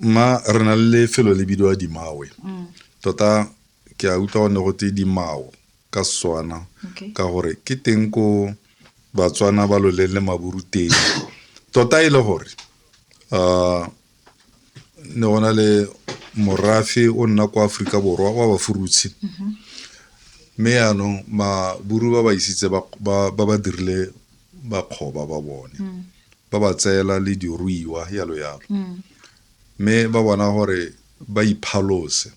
mma re na le lefelo le bidiwa dimawe mm. tota ke a utlwa go ne go tse dimao ka setswana ka gore ke teng ko batswana ba loleng le maburu teng tota e le gore um ne go na le morafe o nna kwa aforika borwa wa bafurutshe mm-hmm. mme yaanong maburu ba ba isitse ba ba dirile bakgoba ba bone mm. ba ba tseela le diruiwa yalo yalo mm. mme ba bona gore ba iphalose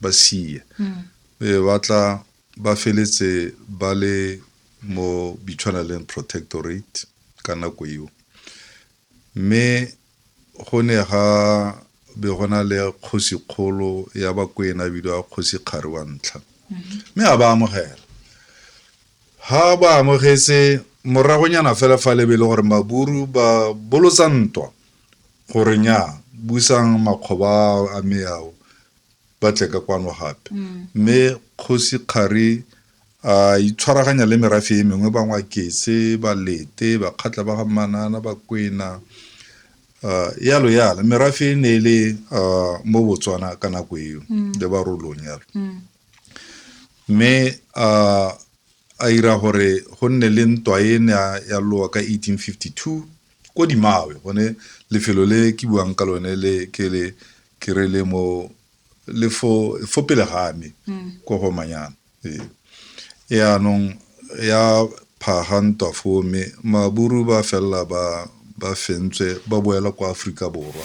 ba sie mm. e ba tla ba feletse ba le mo bitshwaneleng protectorate ka nako eo Mme go ne ga be go na le kgosikgolo ya Bakwena a bidiwa Kgosi Kgari wa ntlha, mme a ba amogela. Ha ba amogetse, moragonyana fela fa le be le gore Maburu ba bolotsa ntwa gore nnyaa, busang makgoba a me ao ba tle ka kwano gape. Mme Kgosi Kgari A itshwaraganya le merafe e mengwe, Bangwakese, Balete, Bakgatla ba ga Manana, Bakwena, yalo yalo. Merafe e ne e le mo Botswana ka nako eo, le Barolong yalo. Mme a ira gore go nne le ntwa e ne ya lowa ka 1852 ko Dimawe, gone lefelo le ke buang ka lone le ke le ke re le mo le fo fo pele ga me ko go manyana ee e anong ya phaga ntwa foo mme maburu ba felela ba ba fentswe ba boela kwa aforika borwa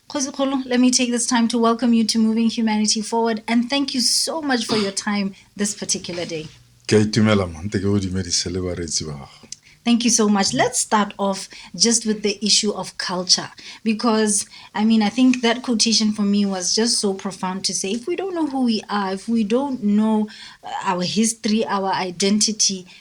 Kgosikgolo, let me take this time to welcome you to Moving Humanity Forward and thank you so much for your time this particular day. Ke a itumela mma, nte ke go dumedise le bareetsi ba gago. Thank you so much. Let's start off just with the issue of culture because I mean, I think that quotation for me was just so profound to say if we don't know who we are, if we don't know uh, our history, our identity,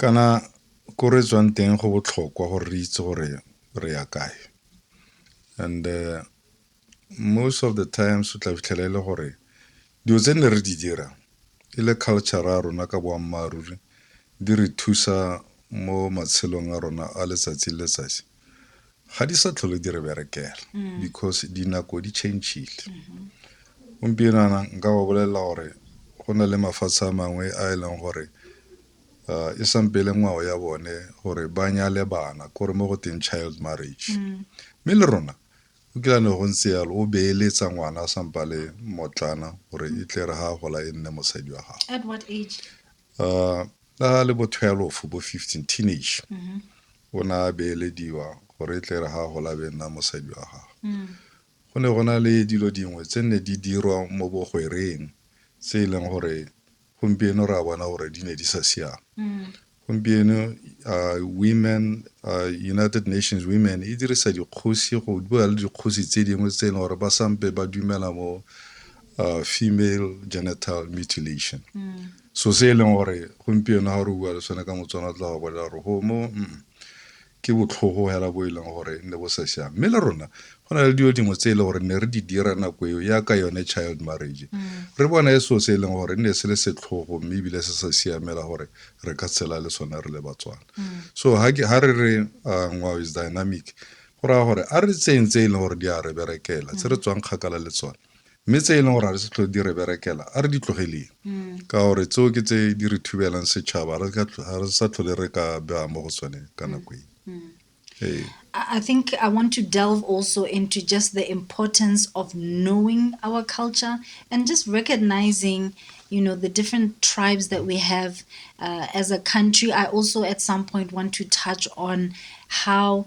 Kana ko re tswang teng go botlhokwa gore re itse gore re ya kae and uh, most of the times o tla fitlhela e le gore dilo tse ne re di dira e le culture ya rona ka boammaaruri di re thusa mo matshelong a rona a letsatsi le letsatsi ga di sa tlhole di re berekela mm. because dinako di changile mm-hmm. gompieno ana nka ba bolelela gore go na le mafatshe a mangwe a e leng gore uh, e sampele ngwao ya bone gore ba nyale bana kore mo go teng child marriage mm. mme le rona o kila ne go ntse yalo o beeletsa ngwana a sampa le motlana gore e tle re ga gola e nne mosadi wa gago uh, a le bo 12 bo 15 teenage mm -hmm. o ne a beelediwa gore e tle re ga gola be nna mosadi wa gago mm. go ne go na le dilo dingwe tse ne di dirwa mo bogwereng tse e leng gore gompieno re a bona gore di ne di sa siama mm. gompieno uh, women uh, united nations women e dirisa dikgosi go bua le dikgosi tse dingwe tse e leng gore ba sampe ba dumela mo uh, female genital mutilation mm. so se e leng gore gompieno ga re bua le sone ka motswana tla go bolela gore gomo mm, ke botlhogo hela bo e leng gore ne bo sa siame mme le rona go na le dilo dingwe tse e le gore ne re di dira nako eo yaka yone child marriage mm. re bona e so se e leng gore ne se le setlhogo mme ebile se sa siamela gore re ka tshela le sone re le batswana mm. so ha re re uh, ngwao is dynamic go raya gore a re tseyeng tse e leng gore di a re berekela tse re mm. tswang kgakala le tsone mme tse e leng gore ga re se tlhole di re berekela a re di tlogeleng mm. ka gore tseo ke tse di re thubelang setšhaba ga re sa tlhole re ka bea mo go tsone ka mm. nako e mm. ee. I think I want to delve also into just the importance of knowing our culture and just recognizing, you know, the different tribes that we have uh, as a country. I also at some point want to touch on how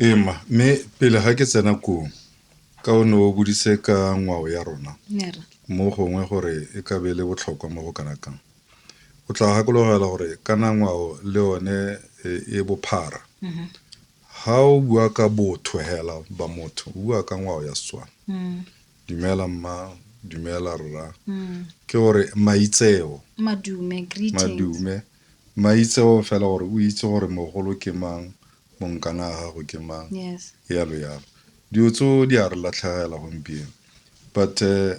Ee mma, mme pele ga ke tsena koo, ka o ne o bodise ka ngwao ya rona mo gongwe gore e ka be le botlhokwa mo go kana kang. O tla gakologela gore kana ngwao le one e, e bophara. Mm-hmm. Ga o bua ka botho hela ba motho, o bua ka ngwao ya Setswana. Mm. Dumela mma, dumela rra. Mm. Ke gore maitseo. Madume, greetings. Madume. Maitseo fela gore o itse gore mogolo ke mang, monkana a gago ke mang, yes. yalo yalo. Dio tso di a re latlhegela gompieno. But uh,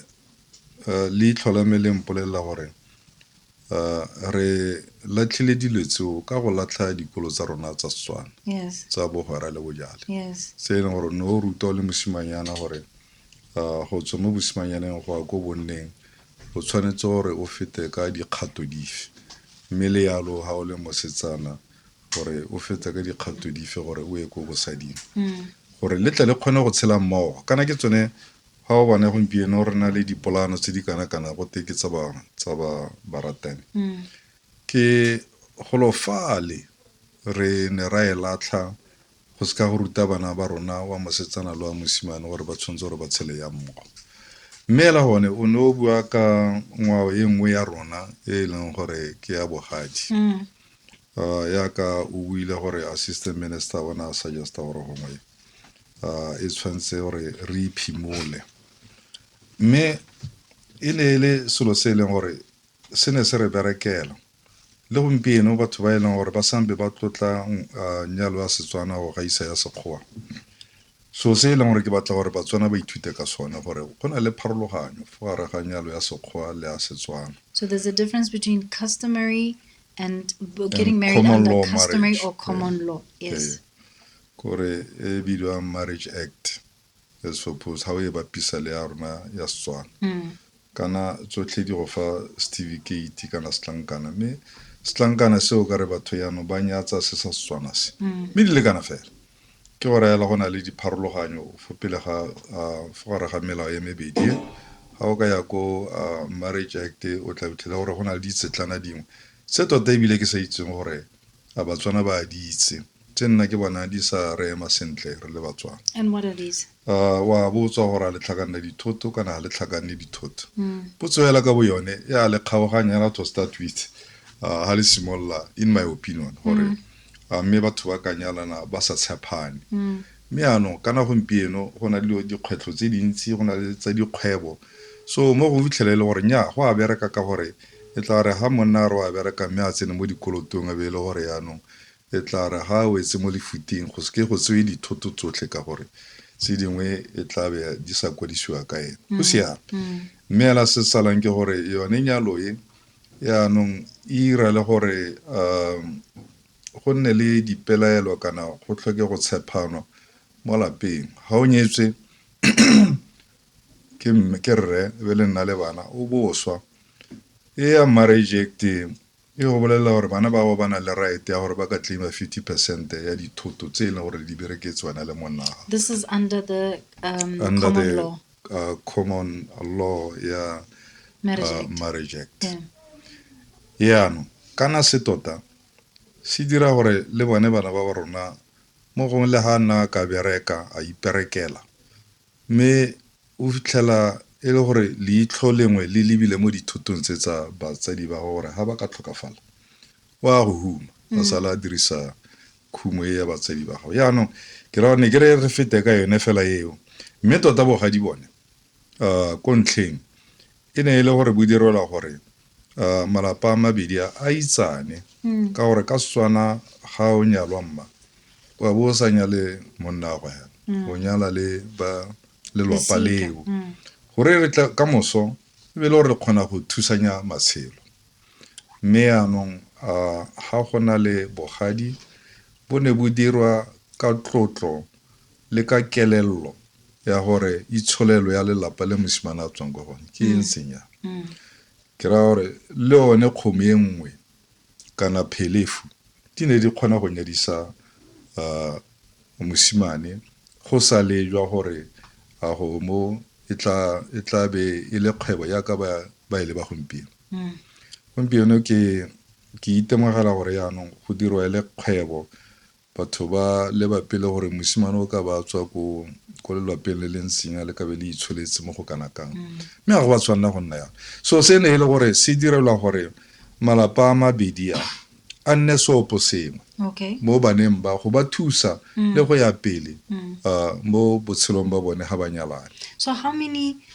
uh, leitlho la me le mpolelela gore uh, re latlhile dilo tseo ka go latlha dikolo tsa rona tsa Setswana yes. tsa bogwera le bojale yes. se e leng gore ne o ruta o le mosimanyana gore Go tswa mo bosimanyaneng go ya ko bonneng o tshwanetse gore o fete ka dikgato dife, mme le yalo ga o le mosetsana gore o fete ka dikgato dife gore o ye ko bosading mm. gore le tle le kgone go tshela mmogo kana ke tsone ga o bone gompieno re na le dipolano tse di kana-kana go te ke tsa ba baratani mm. ke golofale re ne ra e latlha Go se ka go ruta bana ba rona wa mosetsana le wa mosimane gore ba tshwanetse gore ba tshele yang mmogo. Mme ela gone o ne o bua ka ngwao e nngwe ya rona e e leng gore ke ya bogadi. Mm. Uh, yaka o buile gore assistant minister o ne a suggesta gore gongwe uh, e tshwanetse gore re iphimole mme e ne e le selo se e leng gore se ne se re berekela Le gompieno batho ba e leng gore ba sambe ba tlotla nyalo ya Setswana go gaisa ya Sekgowa. So se e leng gore ke batla gore Batswana ba ithute ka sone gore go na le pharologanyo fo gare ga nyalo ya Sekgowa le ya Setswana. So there's a difference between customary and getting married under customary or common law. Yes. Kore e bidiwang Marriage Act. as suppose ha o e bapisa le ya rona ya Setswana mm. kana tsotlhe di go fa certificate kana setlankana mme setlankana seo ka re batho yano ba nyatsa se sa Setswana se mm. mme di le kana fela ke go rayela go na le dipharologanyo fo pele ga fo gare ga melao ya mebedi e. ga o ka ya ko marriage act o tla fitlhela gore go na le ditsetlana dingwe se tota ebile ke sa itseng gore A Batswana ba a di itse tse nna ke bona di sa re ema sentle re le Batswana. And what are these? A wa botswa gore a le tlhakanne dithoto kana ga le tlhakanne dithoto. Potso hela ka bo yone e a le kgaoganya hela to start with a ha le simolola in my opinion gore a mme batho ba ka nyalana ba sa tshepane. Mme yanong kana gompieno go na le dilo dikgwetlho tse dintsi go na le tsa dikgwebo so mo go fitlhela e le gore nnyaa go a bereka ka gore e tla re ga monna a re o a bereka mme a tsene mo dikolotong e be e le gore yanong e tla re ga a wetse mo lefuting go seke go tsewe dithoto tsotlhe ka gore tse dingwe e tla be di sa kwadisiwa ka ene go siame mme ela se salang ke gore yone nyalo e yanong e ira le gore um go nne le dipelaelo kana go tlhoke go tshephano mo lapeng ga o nyetswe ke mme ke rre e be le nna le bana o boswa e ya marriage act e go bolelela gore bana ba ba na le right ya gore ba ka claima 50 percent ya dithoto tse e leng gore di bereketse wena le monna this is under the um, under common the law uh, common law ya marriage uh, act marriage act yeah. yaanong kana se tota Se dira gore le bone bana ba rona mo gongwe le ha nna ka bereka a iperekela mme o fitlhela e le gore leitlho lengwe le lebile mo dithutong tse tsa batsadi ba gore ha ba ka tlhokafala wa go huma a sala a dirisa khumo e ya batsadi ba gago yaanong ke ra ne ke re re fete ka yone fela eo mme tota bogadi bone Ko ntlheng, e ne e le gore bo direlwa gore uh, malapa a mabedi a a itsane mm. ka gore ka setswana ga o nyalwa mma wa bo o sa nyale monna go yana mm. o nyala le ba lelwapa leo mm. gore re tla ka moso e be le gore re kgona go thusanya matshelo mme yaanong uh, ga go na le bogadi bo ne bo dirwa ka tlotlo le ka kelello ya gore itsholelo ya lelapa le mosimane a tswang kwa gone ke e ntseng ya ke raya gore le one kgomo e nngwe kana phelefu di ne di kgona go nyadisa uh, mosimane go sa lejwa gore a go mo e tla e tla be e le kgwebo yaka ba ba ile e ba gompieno mm. gompieno ke ke itemogela gore yaanong go dirwa e le kgwebo Batho ba leba pele gore mosimane o ka ba a tswa ko ko lelwapeng le leng tsenya le kabe le itsholetse mo go kana kang mme ga go ba tshwanela go nna yalo so se ne e le gore se direlwa gore malapa a mabedi a a nne seopo sengwe okay mo baneng ba go ba thusa le go ya pele uh, mo botshelong ba bone ga ba nyalane so how many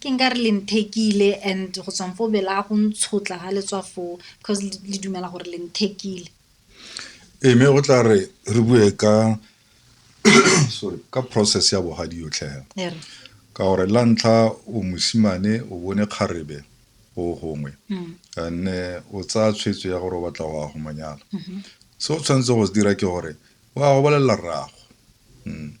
Ke nka re le nthekile and go tswang foo bela go ntshotla ga le tswa foo cause le dumela gore le nthekile ee mme o tla re re bue ka sorry ka process ya bogadi yotlhe fela ka gore la ntlha o mosimane o bone kgarebe go gongwe mm. anne o tsaya tshwetso ya gore o batla go ya go monyala mm-hmm. se o tshwanetse go se dira ke gore wa go bolelela rrago mm.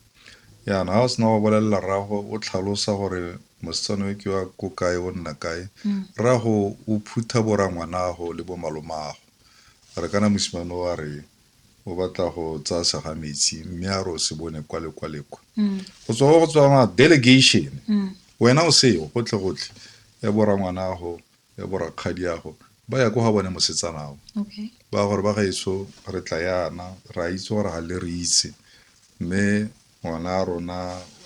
Jaana ga o sena go bolelela rrago o tlhalosa gore mosetsana yo ke wa ko kae o nna kae mm. rrago o phutha borangwanago le bomalomago a re kana mosimane o a re o batla go tsaya sega metsi mme a re o se bone kwa le kwa le kwa mm. go tswa go go tswa ma delegation mm. wena o seo gotlhe gotlhe ya borangwanago ya borakgadiago ba ya ko ga bone mosetsanago okay. ba gore ba gaetso re tla yana ra itse gore ga le re itse mme ngwana a rona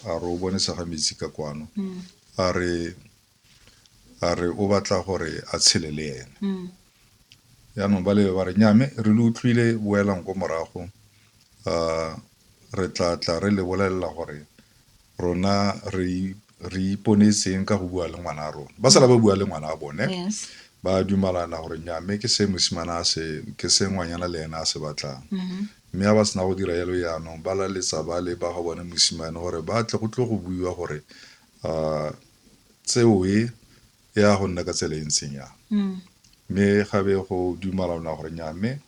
a re o bone sega metsi ka kwano mm. a re a re o batla gore a tshele le ene mm. yaanong ba lebe ba re nyame re le utlwile boelang ko morago um re tla tla re le bolelela gore rona re re iponeseng ka go bua le ngwana a rona ba sala ba bua le ngwana a bone yes ba dumalana gore nyame ke se mosimana a se ke se ngwanyana le ena a se batlang Mhm. mme a ba sena go dira yalo yaanong ba laletsa ba le ba ga bone mosimane gore ba tle go tlo go buiwa gore um tseo e e ya go nna ka tsela e ntseng yang mm. mme gabe go dumalana gore nya mme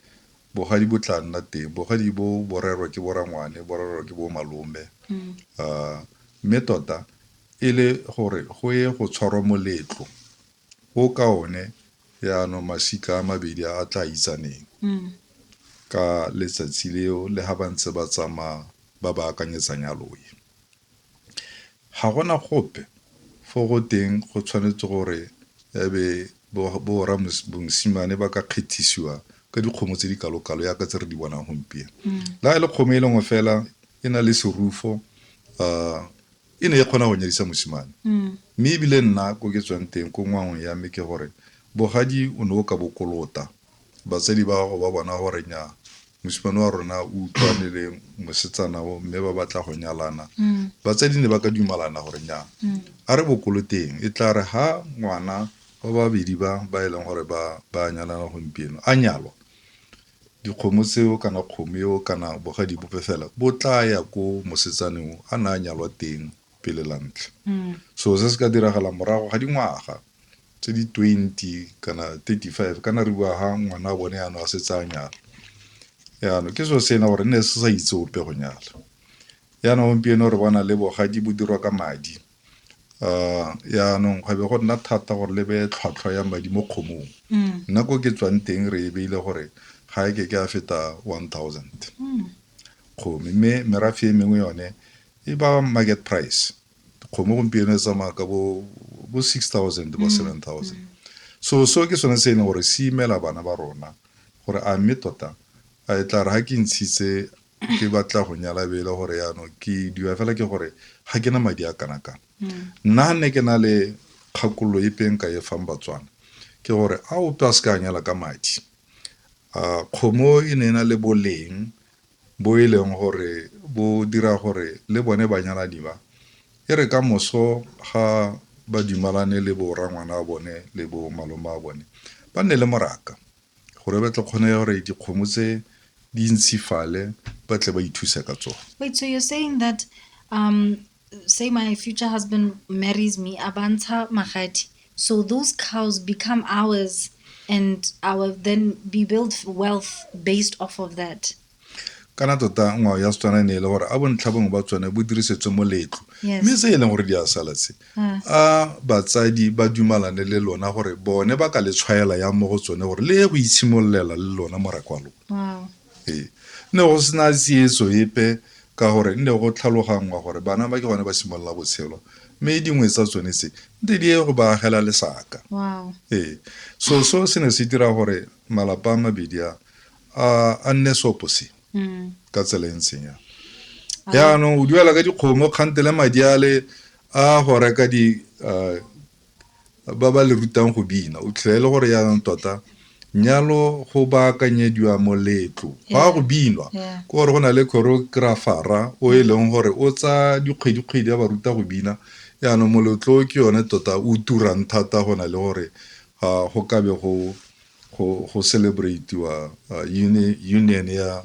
bogadi bo tla nna teng bogadi bo borerwa ke borangwane borerwa ke bo malome mm. ah, mme tota e le gore go ye go tshwarwa moletlo o ka one yaanong masika a mabedi a tla itsaneng mm. ka letsatsi leo le ga ba ntse ba tsamaya ba ba akanyetsanyaloe Ga gona gope fo go teng go tshwanetse gore e be borra bongsimane ba ka kgethisiwa ka dikgomo tse di kalokalo yaka tse re di bonang gompieno. Le ga e le kgomo e le nngwe fela e na le serufo um e ne e kgona go nyadisa mosimane. Mme ebile nna ko ke tswang teng ko ngwagong ya me ke gore bogadi o ne o ka bo kolota. Batsadi ba gago ba bona gore nya mosimane wa rona o utlwane le mosetsana o mme ba batla go nyalana mm. batsadi ne ba ka dumalana gore nya mm. a re bokoloteng e tla re ha ngwana ba babedi ba ba e leng gore ba ba nyalana gompieno a nyalwa dikgomo tseo kana kgomo eo kana bogadi bope fela bo tla ya ko mosetsaneng a na a nyalwa teng pele la ntlha mm. so se se ka diragala morago ga dingwaga tse di twenty kana thirty five kana re bua ha ngwana wa bone yanong a setse a nyala yanong ke selo se e leng gore ne se sa itse ope go nyala yanong gompieno re bona le bogadi bo dirwa ka madi um yanong go be go nna thata gore le beye tlhwatlhwa ya madi mo kgomong nna ko ke tswang teng re e beile gore ga e ke ke a feta one thousand kgomo mme merafe e mengwe yone e ba market price Dikgomo gompieno e tsamaya ka bo bo six thousand bo mm, seven thousand mm. so so ke sone se e leng gore se imela bana ba rona gore a mme tota a e tla re ga ke ntshitse ke batla go nyala be e le gore yaanong ke diwa fela ke gore ga ke na madi a kana kana mm. nna ga nne ke na le kgakololo e peng ka e fang batswana ke gore a ope a se ka nyala ka madi a kgomo e ne e na le boleng bo e leng gore bo dira gore le bone banyalani ba e re ka moso ga ba dumalane le bo rangwana a bone le bo malome a bone ba nne le moraka gore ba tle kgone gore dikgomo tse di ntshifale ba tle ba ithuse ka tsone. Wait, so you're saying that um, say my future husband marries me abantsha magadi so those cows become ours and our then be build wealth based off of that kana tota ngwao ya setswana e ne e le gore a bontlha bongwe ba tsone bo dirisetswe moletlo mme se e leng gore di a sala tse ah. a batsadi ba dumalane le lona gore bone ba ka le tshwaela ya mo go tsone gore le ye go itshimololela le lona morako wa lona Ee, ne go sena tsietso epe ka gore nne go tlhaloganngwa gore bana ba ke gone ba simolola botshelo mme dingwe tsa tsone tse nte di ye go ba agela lesaka. Wow. Ee, so so se ne se dira gore malapa a mabedi a a a nne seoposengwe Mm. ka tsela e ntseng ya jaanong o duela ka dikgomo kgante le madi a le a go reka di ah, ba ba le rutang go bina o tlhela e le gore yaanong tota nyalo go baakanyediwa moletlo go a go binwa ke gore go na le choreographara o e leng gore o tsa dikgwedikgwedi ya ba ruta go bina yaanong moletlo ke yone tota o turang thata go na le gore go kabe go go go celebratiwa union ya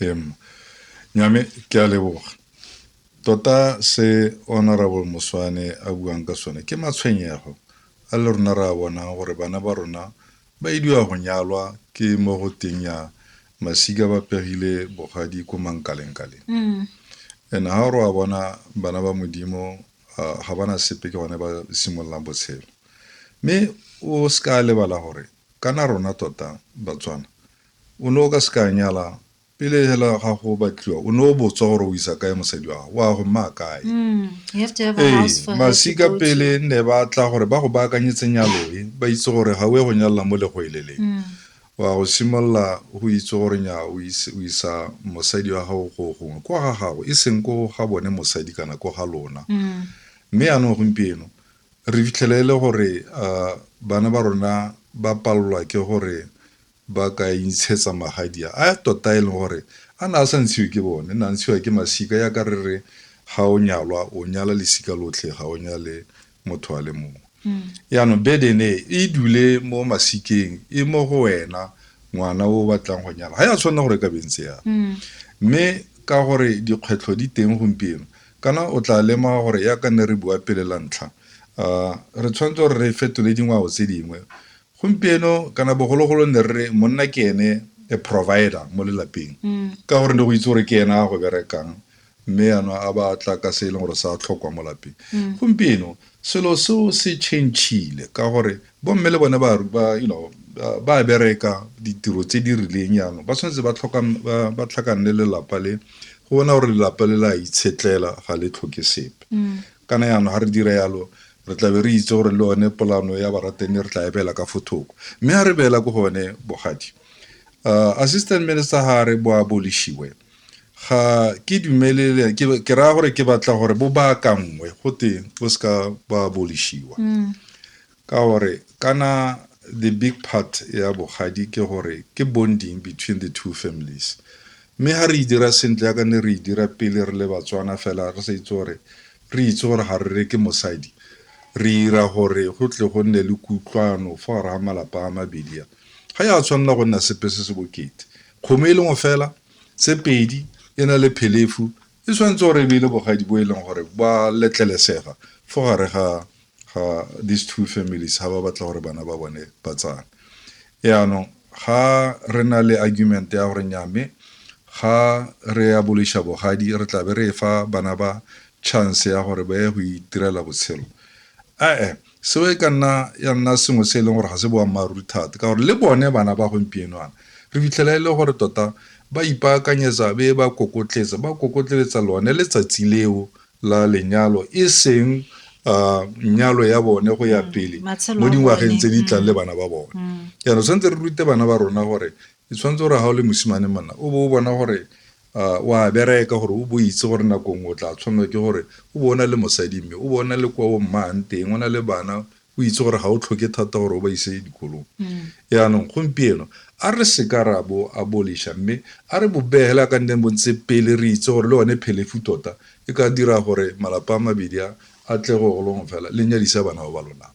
Em, nyame ke a leboga tota se honorable moswane a buang ka sone ke matshwenyego a le rona re a bonang gore bana ba rona ba idiwa go nyalwa ke mo go teng ya masika ba pegile bogadi ko mankalengkaleng mm. and ga gore wa bona bana ba modimo ga bana sepe ke gone ba simololang botshelo mme o se ka lebala gore kana rona tota batswana O ne o ka se ka nyala. Pele hela ga go batliwa, o ne o botswa gore o isa kae mosadi wa gago, wa go mma kae. Mm, you have to have a Ee, house for her to masika go to. pele ne ba tla gore ba go baakanyetse nyalo e, ba itse gore ga o ye go nyalela mo legoeleleng. Mm. Wa go simolola go itse gore nya o ise- o isa mosadi wa gago go gongwe, ko ga gago, e seng ko ga bone mosadi kana ko ga lona. Mm. mme yaanong gompieno re fitlhele e le gore uh, bana ba rona ba palelwa ke gore ba ka intshetsa magadi a a tota e leng gore a na a sa ntshiwe ke bone na ntshiwa ke masika ya ka re re ga o nyalwa o nyala lesika lotlhe ga o nyale motho a le mongwe mm. yaanong burden e e dule mo masikeng e mo go wena ngwana o batlang go nyala ga ya tshwanela gore ka bentse ya mm. mme ka gore dikgwetlho di teng gompieno kana o tla lema gore ya ka nne re bua pele la ntlha um re tshwanetse gore re fetole dingwao tse dingwe Gompieno kana bogologolo ne re re monna ke ene a provider mo lelapeng ka gore ne go itse gore ke ena a go berekang mme yana a ba tla ka se e leng gore sa tlhokwa mo lapeng gompieno selo seo se changile ka gore bomme le bone ba ba you know ba- ba bereka ditiro tse di rileng yanong ba tshwanetse ba tlhoka ba- ba tlhakanne lelapa le go bona gore lelapa le la itshetlela ga le tlhoke sepe Kana jaanong ga re dira jalo, re tla be re itse gore le yone polano ya baratani re tla e beela ka fo thoko. Mme ga re beela ko go yone, bogadi, uh, Assistant Minister ga a re bo abolishiwe, ga ke dumelele, ke, ke raya gore ke batla gore bo baakanngwe, go te bo seka ba abolishiwa. Mm. Ka gore kana the big part ya bogadi ke gore ke bonding between the two families. Mme ha re e dira sentle ya ka ne re e dira pele re le Batswana fela re sa itse gore re itse gore ha re re ke mosadi re ira gore go tle go nne le kutlwano fa gare ga malapa a mabedi a. Ga ya tshwanela go nna sepe se se bokete. Kgomo e le ngo fela, tse pedi e na le phelefu e tshwanetse gore e be le bogadi bo e leng gore ba letlelesega fo gare ga ga these two families ga ba batla gore bana ba bone ba tsane yaanong ga re na le argument ya gore nyame ga re ya boliša bogadi re tlabe re fa bana ba chance ya gore ba ye go itirela botshelo ee seo e ka nna ya nna sengwe se e leng gore ga se boammaaruri thata ka gore le bone bana ba gompienoana re fitlhela e le gore tota ba ipaakanyetsa be ba kokotletsa ba kokotletsa lone letsatsi leo la lenyalo e seng uh, nyalo ya bone go ya mm, pele mo dingwageng tse di tlang mm. le bana ba bone mm. jaanong tshwanetse re rute bana ba rona gore e tshwanetse gore ga o le mosimane monna o bo o bona gore A o a bereka gore o bo o itse gore nako nngwe o tla tshwanelwa ke gore o bo o na le mosadi mme o bo o na le kwa o mmaang teng o na le bana o itse gore ga o tlhoke thata gore o ba ise dikolong yaanong gompieno a re seka ra bo aboliša mme a re bobegele a ka nneng bo ntse pele re itse gore le one phelefu tota e ka dira gore malapa a mabedi a a tle go golong fela le nyadisa bana ba ba lonang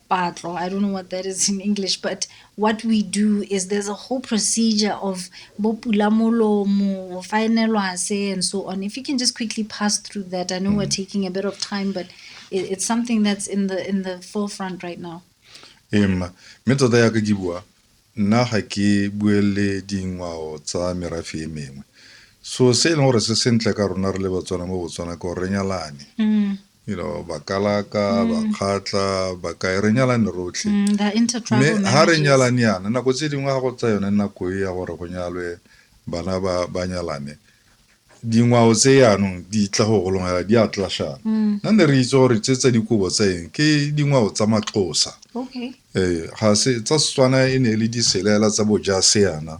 patlo i don't know what that is in english but what we do is there's a whole procedure of bopulamolomo faenelwase and so on if you can just quickly pass through that i know mm. we're mm-hmm. taking a bit of time but it, it's something that's in the in the forefront right now em me tota ya ke bua nna ga ke buele dingwao tsa merafe e mengwe so se e leng gore se sentle ka rona re le batswana mo botswana ke gore re nyalane mm. you know ba kalaka mm. ba kgatla ba kae re nyalane rotlhe mm, mme ga re nyalane yana nako tse dingwe ga go tsa yone nako e ya gore go nyalwe bana ba ba nyalane dingwao tse yanong di tla go golongela di a tlashana mm. nna ne re itse gore tse tsa dikobo tsa eng ke dingwao tsa matlosa ee ga se tsa setswana e ne e le diselela tsa bojase yana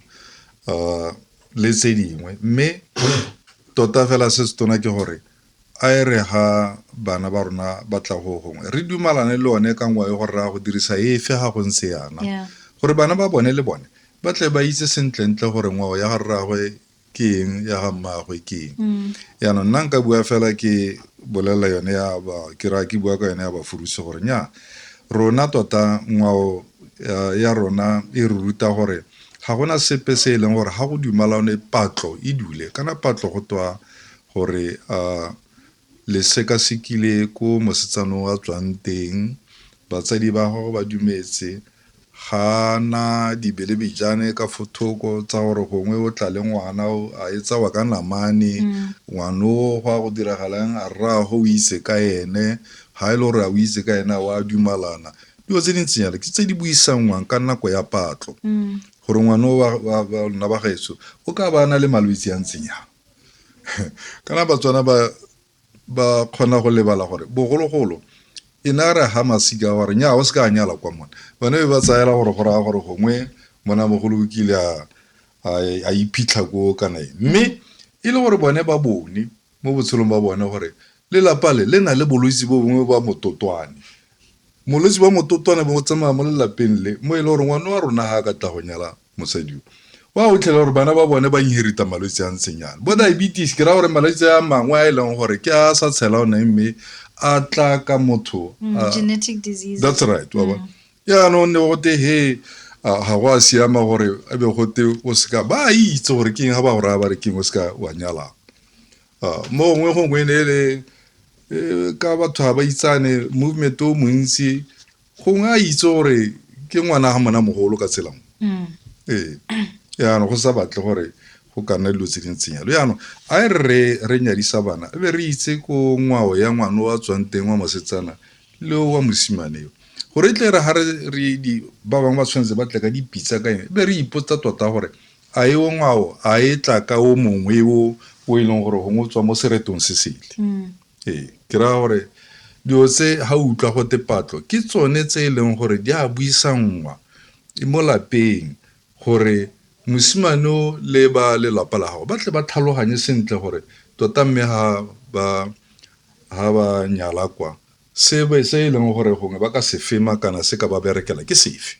um le tse dingwe mme tota fela se se tona ke gore A e re ga bana ba rona ba tla go gongwe re dumalane le one ka ngwayo gore ra go dirisa efe ga go ntse yana gore bana ba bone le bone ba tle ba itse sentlentle gore ngwao ya ga rragwe ke eng ya ga mmaagwe ke eng mm. yaanong nna nka bua fela ke bolelela yone ya ba ke raya ke bua ka yone ya bafurusi gore nya rona tota ngwao ya rona e re ruta gore ga gona sepe se e leng gore ga go dumalane patlo e dule kana patlo go twa gore a le sekasekile ko mosetsana o a tswang teng, batsadi ba gago ba dumetse, ga a na dibelebejane ka fo thoko tsa gore gongwe o tla le ngwana o a e tsawa ka namane ngwana o go a go diragalang a rraago o itse ka ene ga e le gore a o itse ka ene a o a dumalana dilo tse dintseng jalo ke tse di buisanngwang ka nako ya patlo gore ngwana o wa lona ba gaetso o ka ba na le malwetse a ntseng jang kana batswana ba ba kgona go lebala gore bogologolo e ne a re ha masika gore nya o se ka nyala kwa mone bane be ba tsayela gore go raya gore gongwe mona mogolo o kile a iphitlha ko kana e mme e le gore bone ba bone mo botshelong ba bone gore lelapa le le na le bolwetse bo bongwe ba mototwane molwetse ba mototwane bo tsamaya mo lelapeng le mo e le gore ngwana wa rona ga ka tla go nyala Mosadi yo o a otlhela gore bana ba bone ba inherita malwetse a ntseng yana bo diabetes ke raya gore malwetse a mangwe a e leng gore ke a sa tshela one mme a tla ka motho mm, ah, genetic disease that's right wa bona mm. yaanong ne gote he ah, ga go a siama gore a be gote o seka ba itse gore keng ga ba go raya ba re keng o seka wa nyalang ah, mo gongwe gongwe ne e le eh, ka batho ga ba itsane movement o montsi gongwe a itse gore ke ngwana ga mona mogolo ka tshelamo mm. ee yaanong go sa batle gore go ka nna dilo tse di ntseng yalo yaanong a e re re nyadisa bana e be re itse ko ngwao ya ngwana wa tswang teng wa mosetsana le wa mosimane yo gore e tle re ga re ba bangwe ba tshwanetse ba tle ka dipitsa ka eng e be re ipotsa tota gore a e o ngwao a e tla ka o mongwe o o e leng gore gongwe o tswa mo seretong se sele mm. Ee, ke raya gore dilo tse ga o utlwa go tepatlo ke tsone tse e leng gore di a buisanngwa e mo lapeng gore mosimane o le ba lelapa la gago ba tle ba tlhaloganye sentle gore tota mme ga ba ga ba nyala kwa se e leng gore gongwe ba ka se fema kana se ka ba berekela ke sefe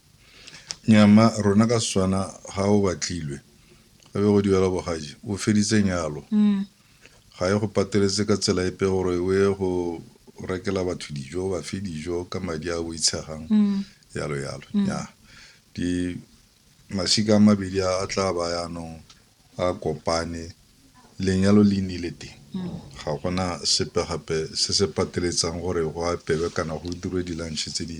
Nya mma rona ka Setswana ga o batlilwe ga be go duela bogadi o feditse nyalo ga e go pateletse ka tsela epe gore o ye go rekela batho dijo ba fe dijo ka madi a boitshegang yalo yalo nya di masika a mabedi a tla ba yaanong a kopane lenyalo le nnile teng ga gona sepe gape se se pateletsang gore go apelwe kana go dirwe di-lunch tse di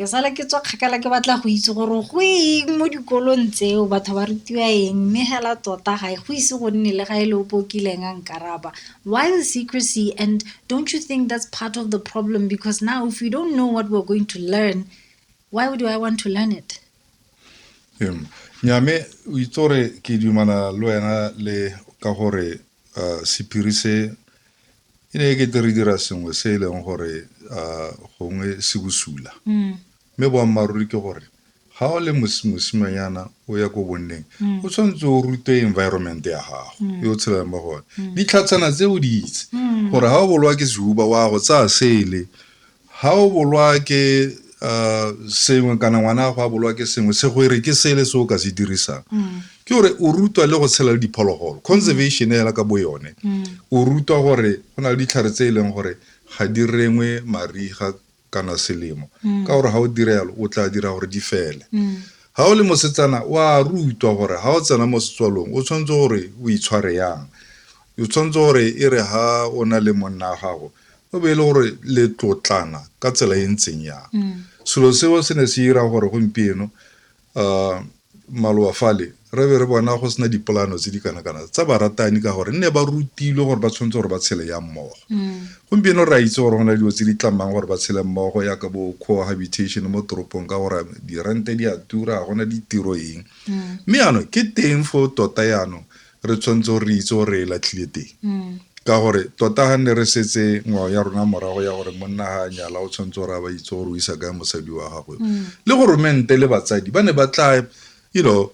Ke sala ke tswa kgakala ke batla go itse gore go eng mo dikolong tseo batho ba rutiwa eng mme hela tota ga e go ise go nne le ga e le o pokileng a nkaraba why the secrecy and don't you think that's part of the problem because now if we don't know what we're going to learn why would i want to learn it nyame o itse gore ke dumana le wena le ka gore uh, sephiri se e ne e kete re dira sengwe se e leng gore uh, gongwe se bosula mm. mme boammaaruri ke gore ga o le mosimanyana o ya ko bonneng mm. o tshwanetse o rute environment ya gago mm. yo o tshelang mo gone ditlhatshana tse o di itse gore ga o bolwa ke sehuba wa go tsaya sele Ga o bolwa ke sengwe kana ngwana gago a bolwa ke sengwe se go ere ke sele se o ka se dirisang mm. ke gore o rutwa le go tshela le diphologolo conservation mm. hela ka bo yone mm. o rutwa gore go na le ditlhare tse e leng gore ga di rengwe mariga kana selemo ka gore ga o dira yalo o tla dira gore di fele ga o le mosetsana o a rutwa gore ga o tsena mo setswalong o tshwanetse gore o itshware yang o tshwanetse gore e re ga o na le monna wa gago o be e le gore le tlotlana ka tsela e ntseng yang mm. selo seo se ne se dira gore gompieno um maloba fale re be re bona go sena dipolano tse di kana-kana tsa baratani ka gore nne ba rutilwe gore ba tshwanetse gore ba tshele ya mmogo mm. gompieno re a itse gore go na dilo tse di tlamang gore ba tshele mmogo ya ka bo cohabitation mo toropong ka gore dirente di a tura gona ditiro eng mm. mme mm. ano ke teng fo tota yanong re tshwanetse gore re itse gore e latlhile teng mm. ka gore tota ga ne re setse ngwao ya rona morago ya gore monna ga a nyala o tshwanetse gore a ba itse gore o isa kae mosadi wa gagwe mm. le goromente le batsadi ba ne ba tla you know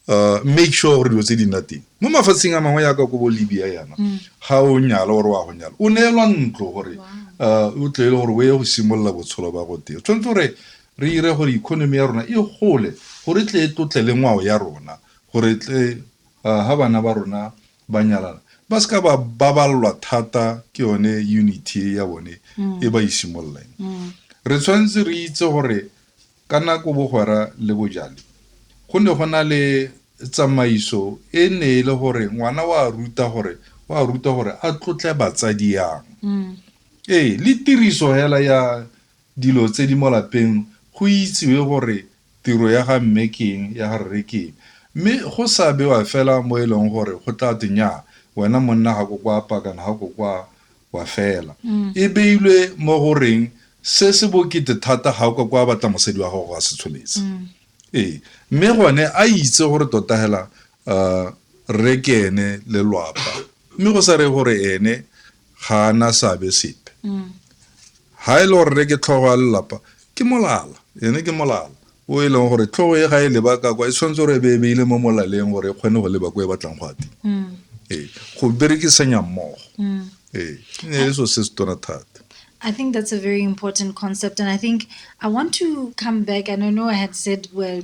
uh, make sure gore dilo tse di nna teng mo mafatsheng a mangwe yaka ko bo libya yana mm. ga o nyala gore wa go nyala o neelwa ntlo gore uh, o tlele gore o ye go simolola botsholo ba go teng tshwanetse gore re ire gore economy ya rona e gole gore tle e tlotle le ngwao ya rona gore tle ha bana ba rona ba nyalana ba se ka ba baballwa thata ke yone unity e ya bone e ba isimololang re tshwanetse re itse gore ka nako bogwera le bojale go ne go na le tsamaiso e ne e le gore ngwana wa ruta gore wa ruta gore a tlotle batsadi yang ee le tiriso hela ya dilo tse di mo lapeng go itsiwe gore tiro ya ga mme ke eng, ya ga rre ke eng mme go sa bewa fela mo e leng gore go tla twe nnyaa wena monna ga ko kwa apa kana ga ko kwa wa fela. E beilwe mo go reng se se bokete thata ga o ka kwa batla mosadi wa gago a se tsholetse. Ee, mme gone a itse gore tota hela A rre ke ene lelwapa, mme go sa reye gore ene ga a na seabe sepe. Ga e le gore rre ke tlhogo ya lelapa, ke molala, ene ke molala o e leng gore tlhogo e ga e leba ka kwa e tshwanetse gore e be e beile mo molaleng gore e kgone go leba ko e batlang go ya teng. Ee, go berekisanya mmogo. Ee, e ne e le so se se tona thata. I think that's a very important concept, and I think I want to come back. And I know I had said we're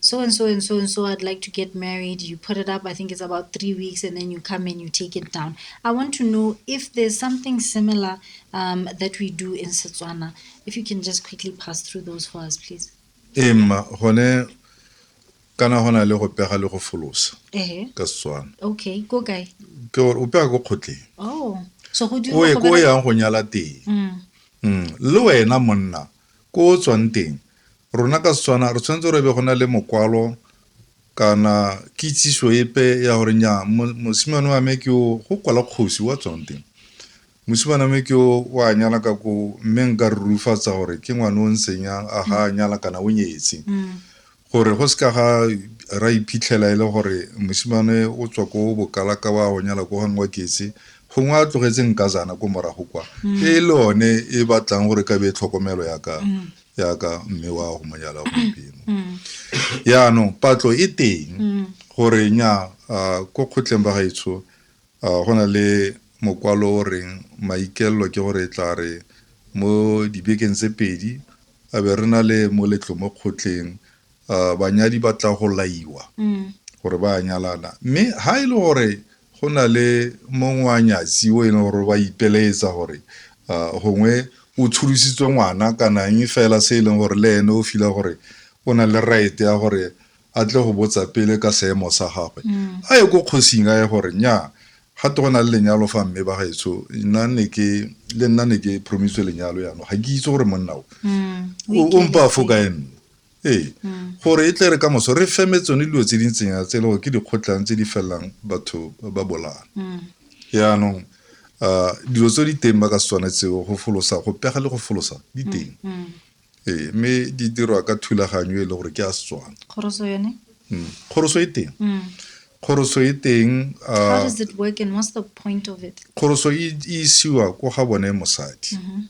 so and so and so and so, I'd like to get married. You put it up, I think it's about three weeks, and then you come and you take it down. I want to know if there's something similar um, that we do in Setswana. If you can just quickly pass through those for us, please. Em, hone kana hona le go pega le go folosa eh. ka Setswana. Okay, go guy. Ke gore o pega go kgotleng. Oh. So go dira go be. Go yang go nyala teng. Mm. mm. Le wena monna ko tswang teng. Rona ka Setswana re tshwanetse gore e be go na le mokwalo kana kitsiso epe ya gore nya mosimane wa me ke o go kwala kgosi wa tsonte mosimane me ke o wa nyala ka ko mme nka re rufatsa gore ke ngwane o ntseng a ga a nyala kana o nyetse gore go seka ga ra iphitlhela e le gore mosimane o tswa ko bokala ka wa go nyala ko gangwe wa ketse gongwe a tlogetse nka zana ko morago kwa e le one e batlang gore ka be tlhokomelo ya ka yaka mme wa go monyala gompieno mm. yaanong patlo e teng mm. gore nya ko kgotleng ba gaetsho go na le mokwalo o reng maikelelo ke gore e tla re mo dibekeng tse pedi a be re na le moletlo mo kgotleng uh, banyadi ba tla go laiwa mm. gore ba nyalana mme ha e le gore go na le mongwe wa nyatsi o e leng gore ba ipeleetsa gore uh, gongwe o tsholositswe ngwana kana eng fela se e leng gore le ene o fila gore o na le right ya gore a tle go botsa pele ka seemo sa gagwe mm. a ye ko kgosing a ye gore nya ga te go na le lenyalo fa mme ba gaetsho le nna ne ke promiswe lenyalo yano ga ke itse gore monna o mm. o mpa fo ka enne ee hmm. gore e tle re ka moso re feme tsone dilo tse di ntseng ya tse le gore ke dikgotlang tse di felelang batho ba bolana hmm. yaanong um dilo tse di teng ba ka setswana tseo go folosa go pega le go folosa di hmm. teng ee mme di dirwa ka thulaganyo e le gore ke a setswana kgoroso e teng kgoroso e teng kgoroso e isiwa ko ga bone mosadi mm-hmm.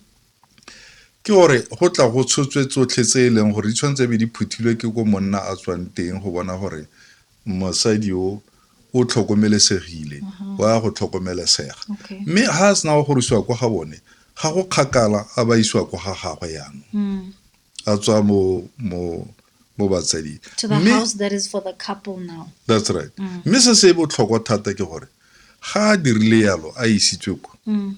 ke gore go tla go tshotswe tsotlhe tse e leng gore di tshwanetse be di phuthilwe ke ko monna a tswang teng go bona gore mosadi o o tlhokomelesegile mhm. wa go tlhokomelesega mme ga a sena go gorisiwa kwa ga bone ga go kgakala a ba isiwa kwa ga gagwe yanong mm. a tswa mo mo mo batsading to the house that is for the couple now that's right mm. mme se se botlhokwa thata ke gore ga a dirile yalo a isitswe kwa mm.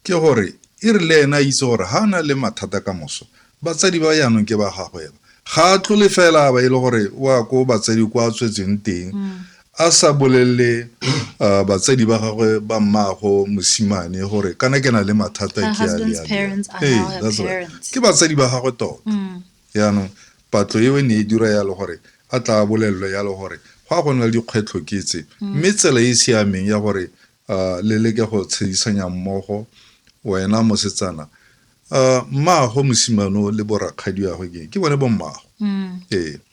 ke gore e re le ena a itse gore ga a na le mathata ka moso batsadi ba yaanong ke ba gagwela ga a tlole fela ba e le gore wa ko batsadi kwa a tswetseng teng mm. a sa bolelele uh, batsadi ba gagwe ba mmaago mosimane gore kana ke na le mathata ke ke batsadi ba gagwe tota mm. yaanong patlo eo e ne e dira yalo gore a tla bolelelo yalo gore go a go nna le dikgwetlho ke tse mm. mme tsela e e siameng ya gore uh, le leke go tshedisanya mmogo wena mosetsana uh, mmaago mosimano le borakgadi yagwe ke ke bone bo mmaago mm. ee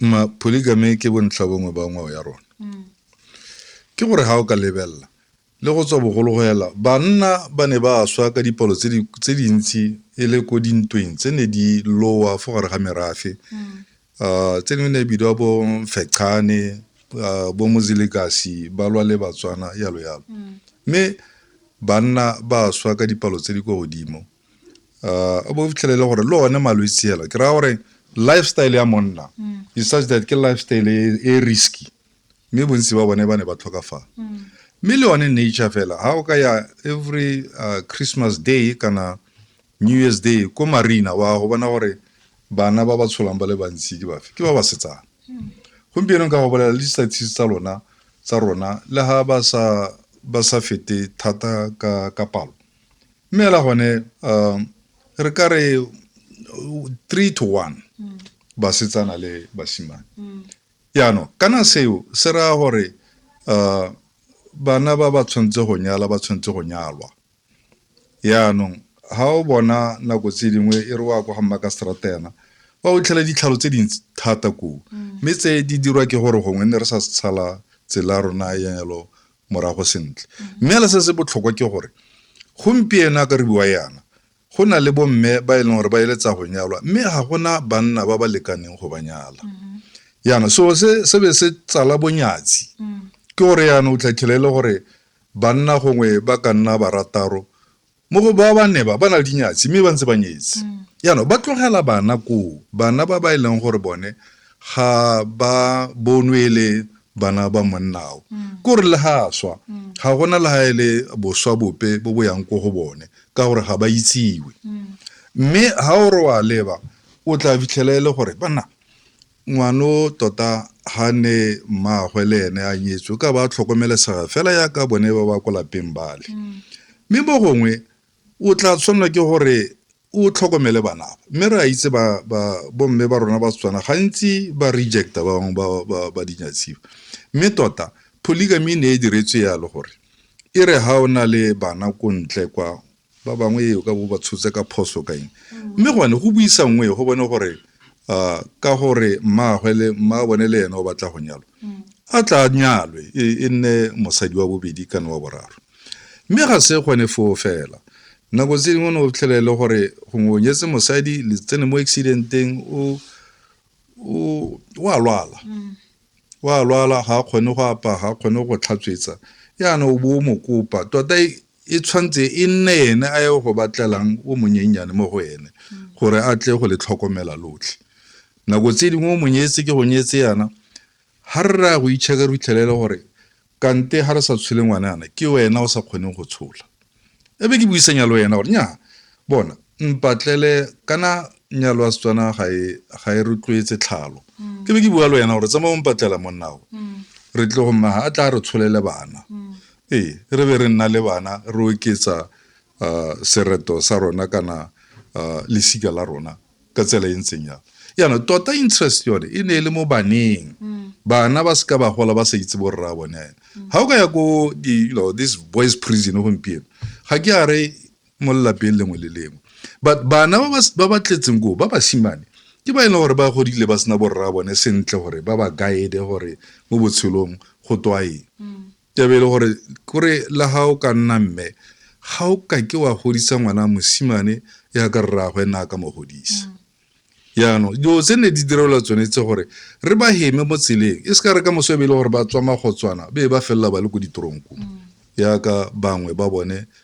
ma polygamy ke bontlhabongwe ba ngwao ya rona mm. ke gore ga o ka lebelela le go tswa bogolo go ela banna ba ne ba swa ka dipalo tse dintsi e le ko dintweng tse ne di lowa fo gare ga merafe mm. ah, tse dingwe ne e bidiwa bo fechane ah, bo mozilegasi ba lwa le batswana yalo yalo mm. mme banna ba swa ka dipalo tse di kwa godimo uh, o bo fitlhelele gore le one malwetse ela ke raya gore lifestyle ya monna mm. is such that ke lifestyle e, e risky mme bontsi ba bone ba ne ba tlhokafala mm. mme le one nature fela ga o ka ya every uh, christmas day kana new year's day ko marina wa go bona gore bana ba ba tsholang ba le bantsi ke bafe ke ba ba setsana mm. gompieno ka go bolela le di-statistics tsa lona tsa rona le ga ba sa fete thata ka palo mme ela gone um re ka re three to one mm. basetsana le basimane mm. yaanong kana seo se raya gore um bana ba ba tshwanetse go nyala ba tshwanetse go nyalwa yaanong ga o bona nako tse dingwe e re wa kwa ga mma ka strata yana ba o tlhela ditlhalo tse dintsi thata koo mm. mme tse di dirwa ke gore gongwe ne re sa setshala tsela rona ya yalo morago sentle mme le se se botlhokwa ke gore gompieno a ka re bua yana go na le bomme ba e leng gore ba eletsa go nyalwa mme ga gona banna ba ba lekaneng go ba nyala yana so se se be se tsala bonyatsi ke gore yana o tlatlhele e le gore banna gongwe ba ka nna barataro mo go ba ba ne ba ba na le dinyatsi mme ba ntse ba nyetse jaanong ba tlogela bana koo bana ba ba e leng gore bone ga ba bonwe e le bana ba monnao kore le ga a swa ga gona le ga e le boswa bope bo bo yang ko go bone ka gore ga ba itsiwe mme ga o re wa leba o tla fitlhela e le gore banna Ngwano tota ha ne mmaagwe le ene a nyetswe o ka ba a tlhokomelesega fela yaka bone ba ba ko lapeng bale mm. mme mo gongwe o tla tshwanelwa ke gore o tlhokomele banaba mme re a itse bomme ba rona ba setswana gantsi ba rejecta ba bangwe ba dinyatsiwa mme tota polygamy ne e diretswe yalo gore e re ha o na le bana ko ntle kwa ba bangwe e o ka bo ba tshotse ka phoso ka eng mme gone go buisa nngwe go bone gore uh, ka gore mmaagwe le mma bone le ene o batla go nyalwa a tla nyalwe e, e nne mosadi wa bobedi kana wa boraro mme ga se gone foo fela nako tse dingwe ne o tlhelele gore gongwe o nyetse mosadi le tsene mo accidenteng o o a lwala mm. o a lwala ga a kgone go apaya ga a kgone go tlhatswetsa yana o bo o mo kopa tota e e tshwanetse e nne ene a ye go batlelang o monyennyane mo go ene gore a tle go le tlhokomela lotlhe nako tse dingwe o monyetse ke go nyetse yana ga re raya go itšheka re fitlhelele gore Kante ha re sa tshole ngwanana, ke wena o sa kgoneng go tshola. E be ke buisanya le wena gore nyaa, bona, mpatlele kana nyalo ya Setswana ga e ga e rotloetse tlhalo. Ke be ke bua le wena gore tsamaya o mpatlela monnao. Re tle go mmaga a tla re tsholele bana. Ee, re be re nna le bana re oketsa uh, sereto sa rona kana uh, lesika la rona. ka tsela e ntseng jalo jaanong tota interest yone e ne e le mo baneng mm. bana ba seka ba gola ba sa itse borra bone ga mm. o ka ya ko you know this boys prison gompieno ga ke a re mo lelapeng lengwe le lengwe but bana ba ba tletseng koo ba basimane ke ba e leng gore ba godile ba sena borra bone sentle gore ba ba guide gore mo botshelong go twaeng mm. Taba e le gore kore la ga o ka nna mme ga o ka ke wa godisa ngwana mosimane ya ka rraagwe nna a ka mo godisa yaanong dilo tse ne di direlwa tsone tse gore re ba heme mo tseleng e se ka re ka moso e be e le gore ba tswa magotswana be ba felela ba le ko ditoronko yaka bangwe ba bone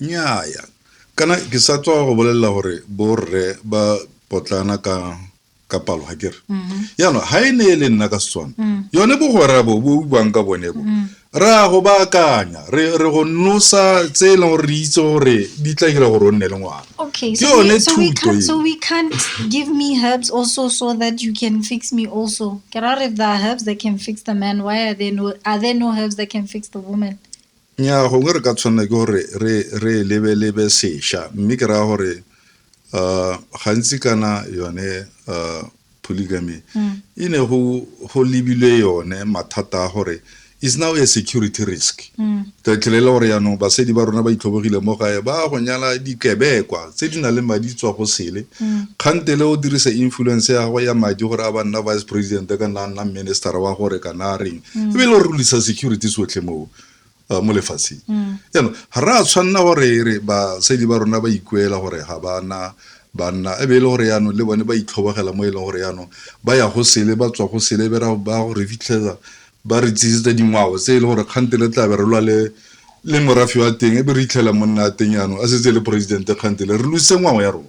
Nnyaa, kana ke sa tswa go bolelela gore borre ba potlana ka ka palo ga kere jaanong ga e ne e le nna ka setswana yone bogwera bo bo buang ka bone bo re a go baakanya re re go nosa tse e leng gore re itse gore di tla dira gore o nne le ngwana Okay, Ke so, we, yone so, we thuto can't, eo. so we can't give me herbs also so that you can fix me also. Gerard, if there are herbs that can fix the man, why are there no are there no herbs that can fix the woman? Nnyaa, gongwe re ka tshwanela ke gore re e lebelebe sešwa mme ke raya gore um gantsi kana yone um polygamy mm. e ne go lebilwe yone mathata a gore is now a security risk mm. ka tlhelela gore yaanong basadi ba rona ba itlhobogile mo gae ba go nyala dikebekwa tse di nang le madi tswa go sele mm. kgantele o dirisa influence ya gago ya madi gore a ba nna vice president ka nna nna minister wa gore kana reng mm. ebile o rulisa security sotlhe moo uh, mo lefatsheng jaanong mm. ga re a tshwanela gore re basadi ba rona ba ikuela gore ga bana banna e be e le gore yaanong le bone ba itlhobogela mo e leng gore yaanong ba ya go sele ba tswa go sele ba go re fitlhela ba re tsisitse dingwao tse e le gore kgante le tlabe re lwa le le morafi wa teng e be re itlhela monna a teng yaanong a setse e le poresidente kgante le re luse ngwao ya rona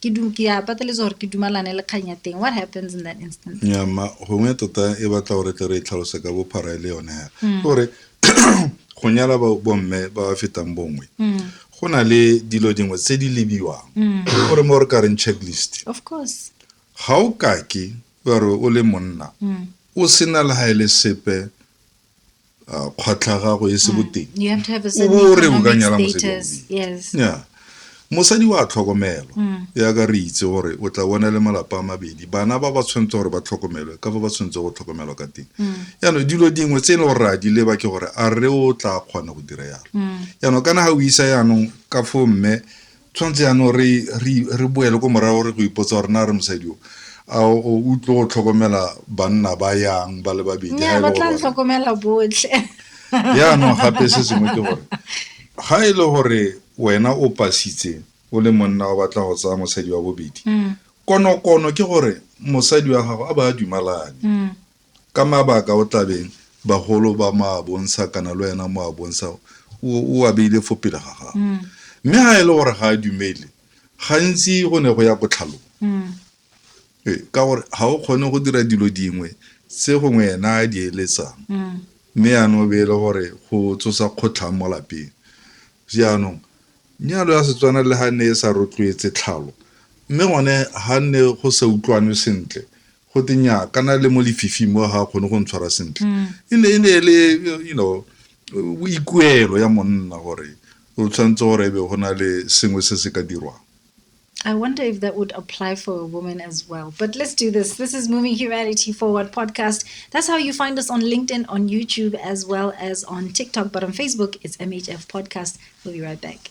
ke ke ya pateletsa gore ke dumalane le kgang ya teng what happens in that instance ya ma gongwe tota e batla gore tle re e tlhalose ka bophara e le yone hela mm. gore go nyala bomme ba ba fetang bongwe mm. go na le dilo dingwe tse di lebiwang mm. gore mo re ka reng checklist of course ga o kake gore o le monna o sena le ga e le sepe uh, kgwatlha gago e se mm. boteng o bo o re o ka nyala mosadi ya mosadi wa tlhokomelwa mm. ya ka re itse gore o tla bona le malapa a mabedi bana ba ba tshwanetse gore ba tlhokomelwe ka fa ba tshwanetse go tlhokomelwa ka teng mm. yaanong dilo dingwe tse e le gore re a di leba ke gore a re o tla kgona go dira yalo yaanong kana ga o isa yaanong ka fo mme Tshwanetse jaanong re boele ko morago re go ipotsa gore na re mosadi o a o tlo go tlhokomela banna ba yang ba le babedi ga ba tla tlhokomela botlhe jaanong gape se sengwe ke gore ga e le gore wena o pasitse o le monna o batla go tsaya mosadi wa bobedi konokono ke gore mosadi wa gago a ba a dumalane ka mabaka o tlabeng bagolo ba mo a bontsha kana le wena mo a bontsha o a beile fo pele ga gago mm. mme ga e le gore ga a dumele gantsi go ne go ya kotlhalong mm. ee, ka gore ga o kgone go dira dilo dingwe tse gongwe ena a di eletsang mm. mme yaanong o beele gore go tsosa kgotlhang mo lapeng jaanong nyalo ya setswana le ga ne e sa rotloetse tlhalo mme gone ga nne go sa utlwane sentle go te nya kana le mo lefifing mo ga kgone go ntshwara sentle mm. e ne e ne le you know boikuelo ya monna gore o tshwanetse gore ebe go na le sengwe se se ka dirwang I wonder if that would apply for a woman as well. But let's do this. This is Moving Humanity Forward podcast. That's how you find us on LinkedIn, on YouTube, as well as on TikTok. But on Facebook, it's MHF Podcast. We'll be right back.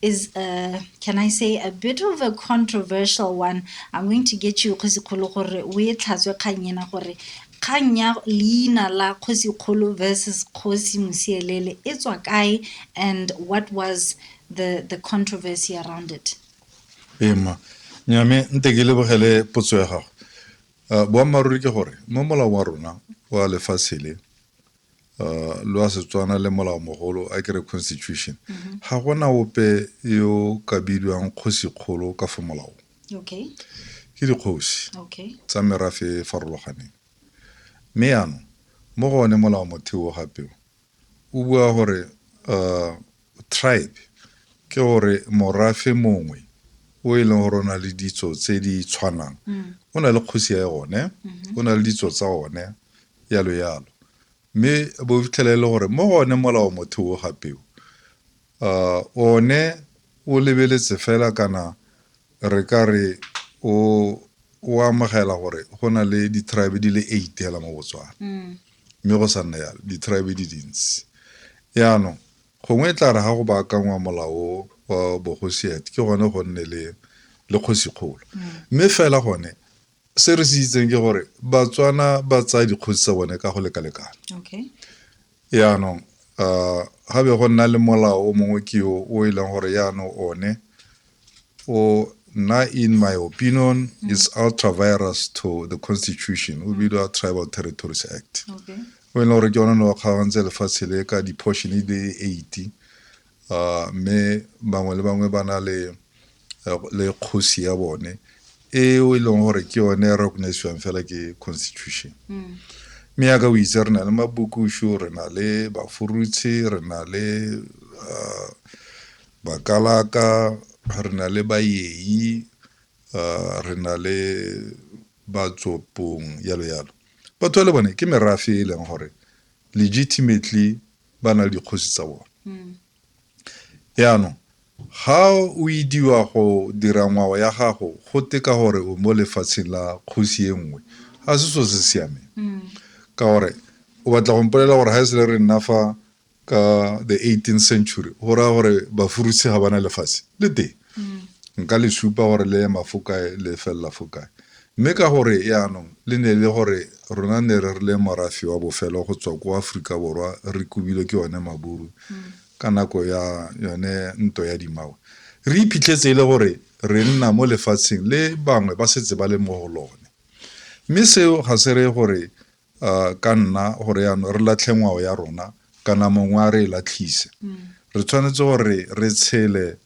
is a, can I say a bit of a controversial one. I'm going to get you Kgosi Kgolo gore o e tlhatswe kgang ena gore kgang ya leina la Kgosi Kgolo versus Kgosi Mosielele e tswa kae and what was the the controversy around it? Ema nyame nte ke lebogele potso ya gago. Uh, boammaaruri ke gore mo molao wa rona wa lefatshe le uh, lwa setswana le molao mogolo a kere constitution mm-hmm. ga gona ope yo ka bidiwang kgosikgolo ka fo molaong okay. ke dikgosi okay. tsa merafe e farologaneng mme yaanong mo gone molao motheo gapeo o bua gore uh, Tribe ke gore morafe mongwe o e leng gore o na le ditso tse di tshwanang mm. o na le kgosi ya one mm-hmm. o na le ditso tsa one yalo yalo mme bo fitlhela e le gore mo gone molao motho o gapeo uh, one o lebeletse fela kana re ka re o o amogela gore go na le di-tribe di le eight fela mo botswana mm. mme go sa nna yalo di-tribe di dintsi yaanong Gongwe e tla re ga go baakangwa molao o wa bogosiet ke gone go nne le le kgosikgolo mme fela gone se re se itseng ke gore batswana ba tsaya dikgosi tsa bone ka go lekalekana okay yaanong um ga be go nna le molao o mongwe ke o o e leng gore yaanong one o na in my opinion mm. is ultra virus to the constitution o bidwa tribal territories act okay. o e leng gore ke yone ne wa kgaogantse lefatshe le ka di-portion e le eighty uh, mme bangwe le bangwe ba na le le kgosi ya bone eo e leng gore ke yone e recognisiwang fela ke constitution mm. mme yaka o itse re na le mabukušu re na le bafurutshi re na le uh, Bakalaka, re na le Bayei, re na le Batsopong, yalo yalo. Batho ba le bone ke merafe e e leng gore legitimately ba na le dikgosi tsa bone. Yaanong ga o idiwa go dira ngwao ya gago go teka gore o mo lefatsheng la kgosi e nngwe ga se so se siameng ka gore o batla go mpolela gore ga e sele re nna fa ka the 18th century go raya gore bafurusi ga bana lefatshe le teng mm. nka le supa gore le ema fo kae le felela fo kae mme ka gore yaanong le ne le gore rona ne re rile morafi wa bofelo go tswa ko aforika borwa re kobilwe ke yone maburu mm. ka nako ya yone nto ya dimawe re iphitlhetse e le gore re nna mo lefatsheng le bangwe ba setse ba le mo go lone mme seo ga se reye gore ka nna gore yaanong re latlhe ngwao ya rona kana mongwe a re e latlhise mm. re tshwanetse gore re tshele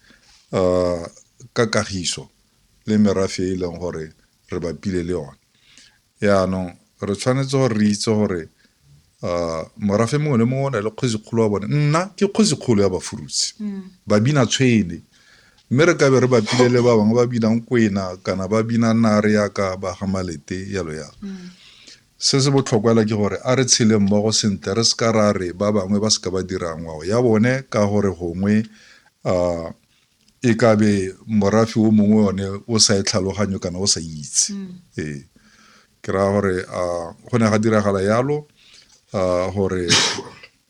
um ka kagiso le merafe e e leng gore re bapile le yone yaanong re tshwanetse gore re itse gore um morafe mongwe le mongwe o na le kgwezikgolo wa bone nna ke kgwezikgolo ya bafurutsi mm. babina tshwene Mme re ka be re bapile le ba bangwe ba binang kwena kana ba bina nare yaka ba ga malete yalo yalo mm. se se botlhokwela ke gore a re tshele mmogo sentle re seka ra re ba bangwe ba seka ba dira ngwao ya bone ka gore gongwe um e ka be morafi o mongwe one o sa e tlhaloganyo kana o sa itse mm. ee ke raya gore um go ne ga diragala yalo um gore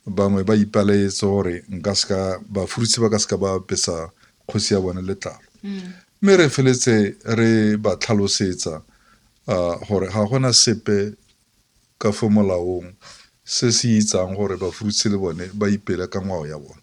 Bangwe ba ipelaetsa gore nka seka bafurutse ba ka seka ba apesa kgosi ya bone letlalo mme re feletse re ba tlhalosetsa ah, gore ga gona sepe ka fo molaong se se itsang gore bafurutse le bone ba ipele ka ngwao ya bone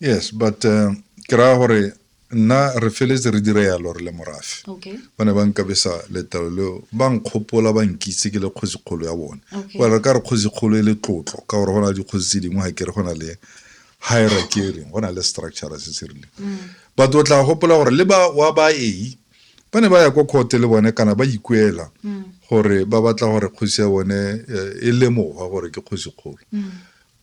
yes but uh, ke raya gore nna re feletse re dire yalo re le morafe okay. ba ne ba nkabesa letalo leo ba nkgopola ba nkitse ke le kgosikgolo ya bone okay. well re ka re kgosikgolo e le tlotlo ka gore go na le dikgosi tse dingwe ga ke re go na le hierarchy e reng go na le structure se se rileng mm. but o tla gopola gore le ba wa ba e ba ne ba ya ko court le bone kana ba ikuela mm. gore ba batla gore kgosi ya bone eh, e lemoga gore ke kgosikgolo mm.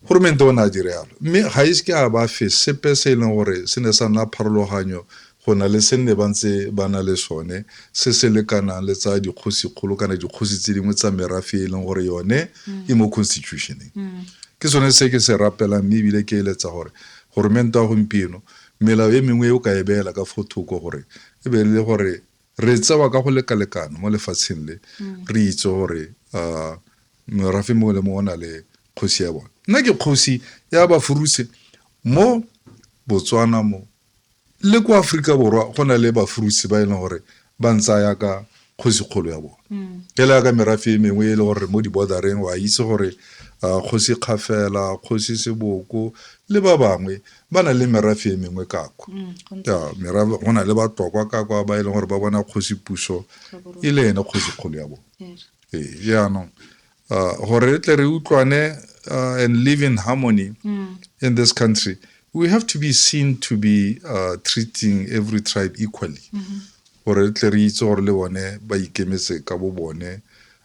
Goromente o ne a dire yalo, mme ga ise ke a ba fe sepe se e leng gore se ne sa nna pharologanyo go na le se nne ba ntse ba na le sone se se lekanang le tsa dikgosikgolo kana dikgosi tse dingwe tsa merafe e leng gore yone mm. e mo constitutioneng mm. ke sone se ke se rapelang mme ebile ke eletsa gore goromento ya gompieno melao e mengwe e o ka e beela ka fo thoko gore e be le gore Re tsewa ka go lekalekana mo lefatsheng le, re itse gore morafe mongwe le mongwe o na le kgosi ya bone. Nna ke kgosi ya Bafuruse mo Botswana mo, le kwa Aforika Borwa go na le Bafuruse ba e leng gore ba ntsaya ka kgosikgolo ya bone. Fela yaka merafe e mengwe e le gore mo di-border-reng wa itse gore kgosi Kgafela, kgosi Seboko le ba bangwe ba na le merafe e mengwe ka kwa mm, go na le batlokwa ka kwa ba e leng gore ba bona kgosi puso e le ene kgosi kgolo ya bone ee jaanong uh, gore re tle re utlwane uh, and live in harmony mm. in this country we have to be seen to be uh, treating every tribe equally mm-hmm. gore re tle re itse gore le bone ba ikemetse ka bo bone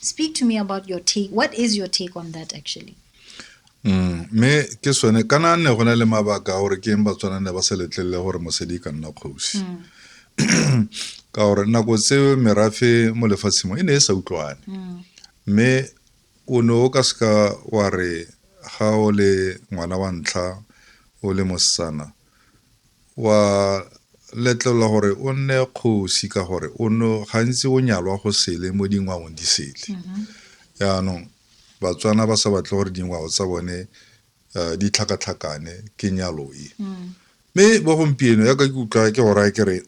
speak to me about your take what is your take on that actually mm, mme ke sone kana nne go na le mabaka gore ke eng batswana ne ba sa letlelele gore mosadi ka nna kgosi mm. ka gore nako tse merafe mo lefatsheng mo e ne e sa utlwane mm. mme o ne o ka seka wa re ga o le ngwana wa ntlha o le mosetsana Wa letlelwa gore o nne kgosi ka gore o no gantsi o nyalwa go sele mo dingwaong di sele mm-hmm. yaanong batswana ba sa batle gore dingwao tsa bone uh, di tlhakatlhakane ke nyalo e mm. mme mm. bo gompieno yaka ke utlwa ke gora ke re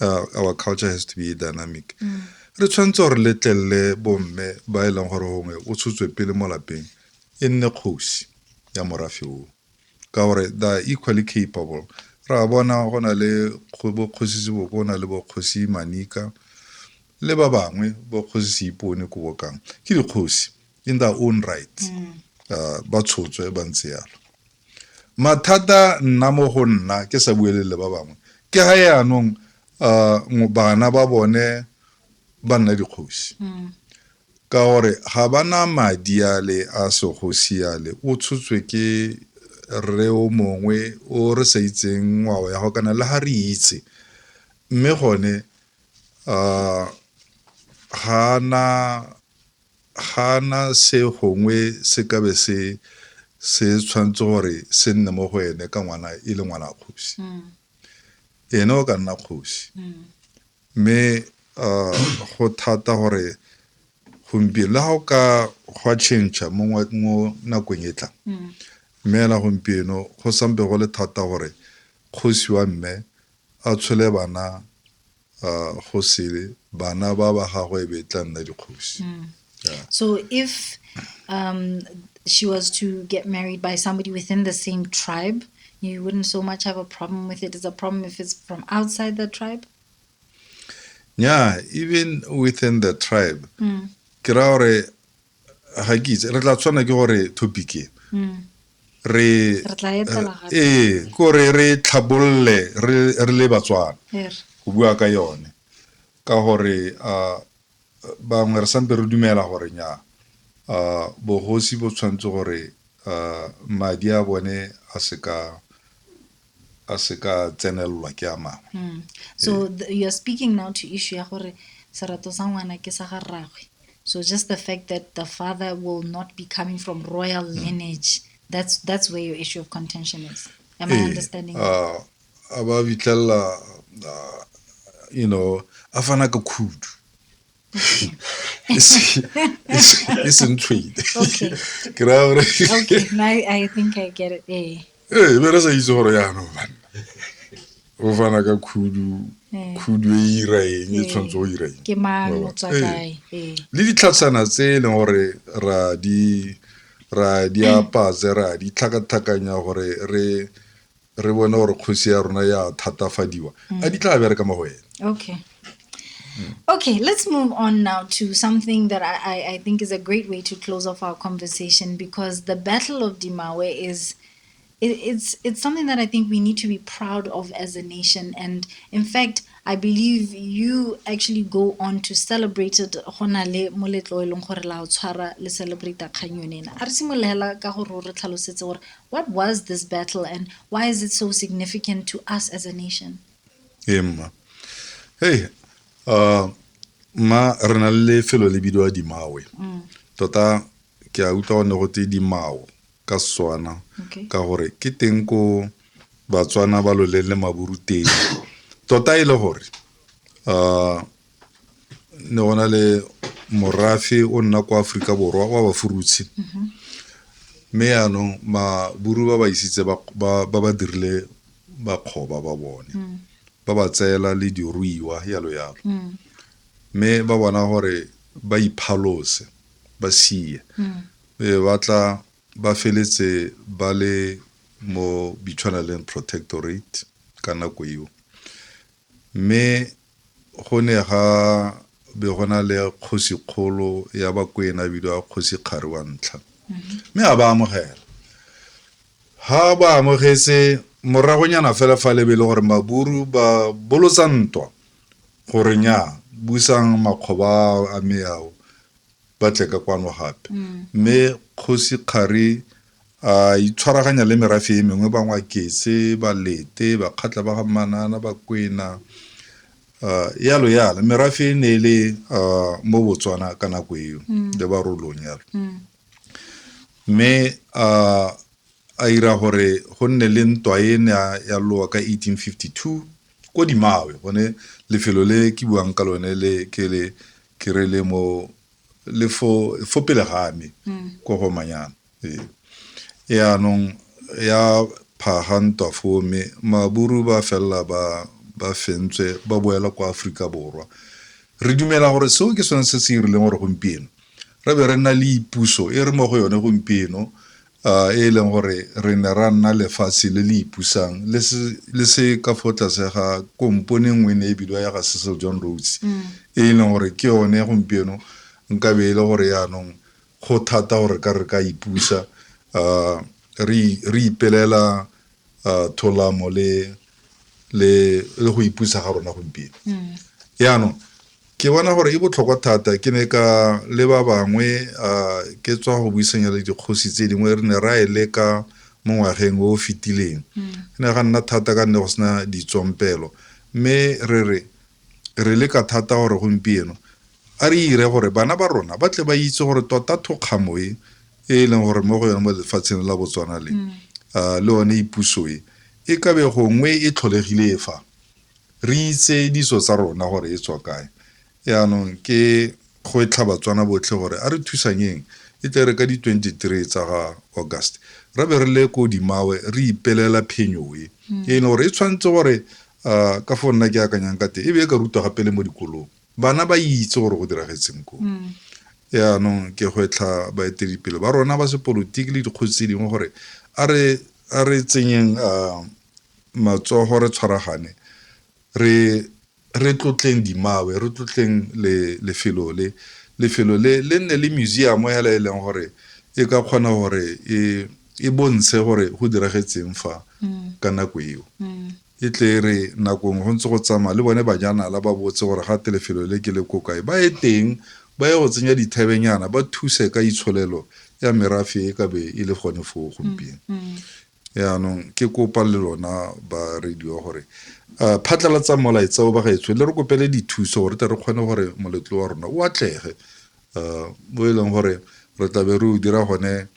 uh, our culture has to be dynamic mm. re tshwanetse gore letlelele bomme ba e leng gore gongwe o tshotswe pele mo lapeng e nne kgosi ya morafe o Ka gore they are equally capable. Re a bona go na le bokgosi Sebokona le bokgosi Manika le ba bangwe bokgosi Seipone ko bokang ke dikgosi in their own right uh, ba tshotswe ba ntse yalo mathata nna mo go nna ke sa buelele ba bangwe ke ga yaanong uh, bana ba bone ba nna dikgosi Ka gore ga ba na madi ale a segosi ale, o tshotswe ke rre o mongwe o re sa itseng ngwao ya go kana le ga re itse. Mme gone ga a na se gongwe se ka be se tshwanetse gore se nne mo go ene ka ngwana e le ngwana kgosi. Ene o ka nna kgosi. Mme go thata gore gompieno le ga o ka gwa change mo nakong e tlang mme ela gompieno go sampe go le thata gore kgosi wa mme a tshole bana go sele bana ba ba gagwe e be e tla nna dikgosi. Yeah. So if um, she was to get married by somebody within the same tribe, you wouldn't so much have a problem with it. It's a problem if it's from outside the tribe. Yeah, even within the tribe. Mm. ke ra gore ga ke itse re tla tshwana ke gore topic e mm. re ee kore re tlhabolole re le batswana go bua ka yone ka gore Bangwe re sampe re dumela gore nyaa, bogosi bo tshwanetse gore madi a bone a se ka a se ka tsenelelwa ke a mangwe mm. so eh. the, you're speaking now to issue ya gore serato sa ngwana ke sa ga rragwe so just the fact that the father will not be coming from royal mm. lineage that's that's where your issue of contention is am hey, i eh, understanding uh, a ba fitlhelela uh, you know a fana ka khudu e seng trade ke raya gore ee be re sa itse gore yaanong banna o fana ka khudu eh. khudu e ira eng e eh. tshwanetse o ira eng eh. le ditlhatsana tse e leng gore ra di ra di apatse ra di tlhakatlhakanya gore re re bone gore kgosi ya rona ya thatafadiwa mm. a di tla bereka mo go ene okay mm. Okay, let's move on now to something that I, I think is a great way to close off our conversation because the Battle of Dimawe is it, it's it's something that I think we need to be proud of as a nation. And in fact, I believe you actually go on to celebrate it gona le moletlo e leng gore la o tshwara le celebrate kganyone ena. A re simolehela ka gore re tlhalosetse gore What was this battle and why is it so significant to us as a nation? Hey, ma. Hey, uh, ma re na le lefelo le bidiwa dimawe mm. tota ke a utlwa go ne go tse dimao ka setswana ka gore ke teng ko batswana ba loleng le maburu teng tota e le gore um ne go na le morafe o nna kwa aforika borwa wa bafurutshe mme yaanong maburu ba ba isitse ba ba- ba ba dirile bakgoba ba bone ba ba tseela le diruiwa yalo yalo mme ba bona gore ba iphalose ba sie e ba tla ba feletse ba le mo bitshwanaleng protectorate ka nako eo Mme go ne ga be go na le kgosikgolo ya Bakwena a bidiwa Kgosi Kgari wa Ntlha, mme a ba amogela. Ha ba amogetse, moragonyana fela fa le be le gore Maburu ba bolotsa ntwa gore nnyaa, busang makgoba a me ao ba tle ka kwano gape. Mme Kgosi Kgari A itshwaraganya le merafe e mengwe, Bangwaketse, Balete, Bakgatla ba ga Manana, Bakwena, yalo yalo. Merafe e ne e le mo Botswana ka nako eo, le Barolong yalo. Mme a ira gore go nne le ntwa e ne ya lowa ka 1852 ko Dimawe, gone lefelo le ke buang ka lone le ke le ke re le mo le fo pele ga me mm. ko go manyana ee yaanong ya phaga ntwa foo mme maburu ba felela ba ba fentswe ba boela kwa aforika borwa re dumela gore seo ke sone se se irileng gore gompieno re be re nna le ipuso e re mo go yone gompieno a e leng gore re ne ra nna lefatshe le le ipusang le se le se ka fo tlase ga kompone nngwe e ne e bidiwa ya ga Cecil John Rhodes e e leng gore ke yone gompieno nkabe e le gore yaanong go thata gore ka re ka ipusa a re re ipelela tholamo le le le go ipusa ga rona gompieno mm. yaanong ke bona gore e botlhokwa thata ke ne ka le ba bangwe um ke tswa go buisanya le dikgosi tse dingwe re ne ra e leka mo ngwageng o o fetileng mm. e ne ga nna thata ka nne go sena ditsompelo mme re re re leka thata gore gompieno A re ire gore bana ba rona ba tle ba itse gore tota thokgamo e e e leng gore mo go yone mo lefatsheng la Botswana le ah, le one ipuso e e ka be gongwe e tlholegile e fa re itse ditso tsa rona gore e tswa kae yaanong ke go e tlha batswana botlhe gore a re thusanyeng e tle re ka di 23 tsa ga august re be re le ko dimawe re ipelela phenyo e e leng gore e tshwanetse gore ah, ka fo nna ke akanyang ka te e be e ka rutwa gape le mo dikolong bana ba itse gore go diragetseng ko yaanong ke gwetlha baeteledipele ba rona ba sepolotiki le dikgotsi tse dingwe gore a re a re tsenyeng a matsogo re tshwaragane re re tlotleng dimawe re tlotleng le lefelo le lefelo le le nne le museum hela e leng gore e ka kgona gore e e bontshe gore go diragetseng fa ka nako eo E tle e re nakong go ntse go tsamaya le bone bajanala ba botse gore ga te lefelo le ke le ko kae, ba ye teng ba ye go tsenya dithebenyana ba thuse ka itsholelo ya merafe e ka be e le gone foo gompieno. Mm, mm. yaanong ke kopa le lona ba radio gore uh, phatlalatsa molaetsa o bagaetsho le re kopele dithuso gore tle re kgone gore moletlo wa rona o atlege uh, o e leng gore re tlabe re o dira gone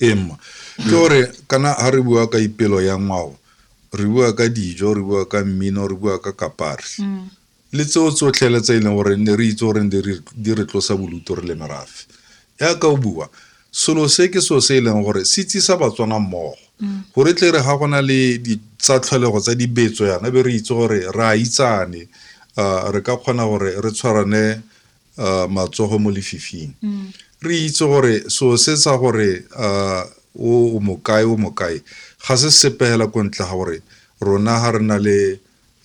ee mma ke gore kana ga re bua ka ipelo ya ngwao re bua ka dijo re bua ka mmino re bua ka kapari mm. le tseo tsotlhe le tse e leng gore ne re itse gore di re tlosa boluto re le merafe yaka o bua selo se ke seo se e leng gore se tsisa batswana mmogo mm. gore tle re ga gona le tsa tlholego tsa dibetso yana be re itse gore re a itsane re ka kgona gore re tshwarane uh, matsogo mo lefifing mm. re itse gore so se sa gore uh, o mokae o mokae ga se sepegela ko ntle ga gore rona ga re na le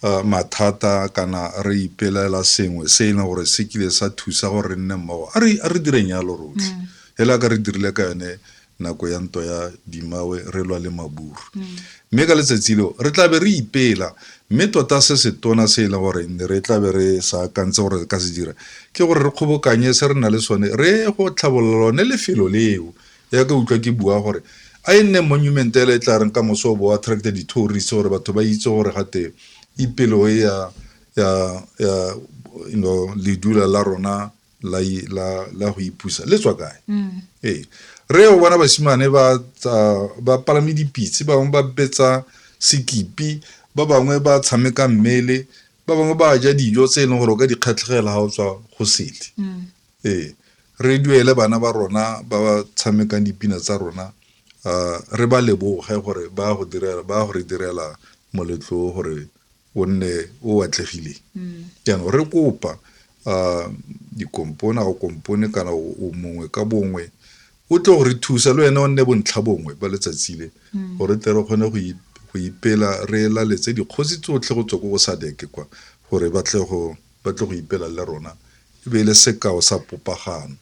uh, mathata kana re ipelela sengwe se e leng gore se kile sa thusa gore re nne mmogo a re direng yalo rotlhe mm. hela ka re dirile ka yone nako ya ntwa ya dimawe re lwa le maburu mm. mme ka letsatsi leo re tlabe re ipela mme tota se se tona se e leng gore ne re tla be re sa akantse gore re ka se dira ke gore re kgobokanye se re na le sone re go tlhabolola lone lefelo leo ya ka utlwa ke bua gore a e nne monument ele e tla reng ka moso o bo attracte di-tourist gore batho ba itse gore gate ipelo e ya ya ya you know ledula la rona la i- la la go ipusa le tswa kae ee re o bona basimane ba tsa- ba palame dipitse ba bangwe ba betsa sekipi ba bangwe ba tshameka mmele ba bangwe ba ja dijo tse e leng gore o ka di kgatlhegela ga o tswa go sele ee re duele bana ba rona ba ba tshamekang dipina tsa rona ah, re ba leboge gore ba go direla ba go re direla moletlo o gore o nne o atlegile jaanong re kopa um dikompone a o kompone kana o mongwe ka bongwe o tle go re thusa le wena o nne bontlha bongwe ba letsatsi le gore tle re kgone go ipela re laletse dikgosi tsotlhe go tswa ko go sadeke kwa gore ba tle go ipela le rona e be e le sekao sa popagano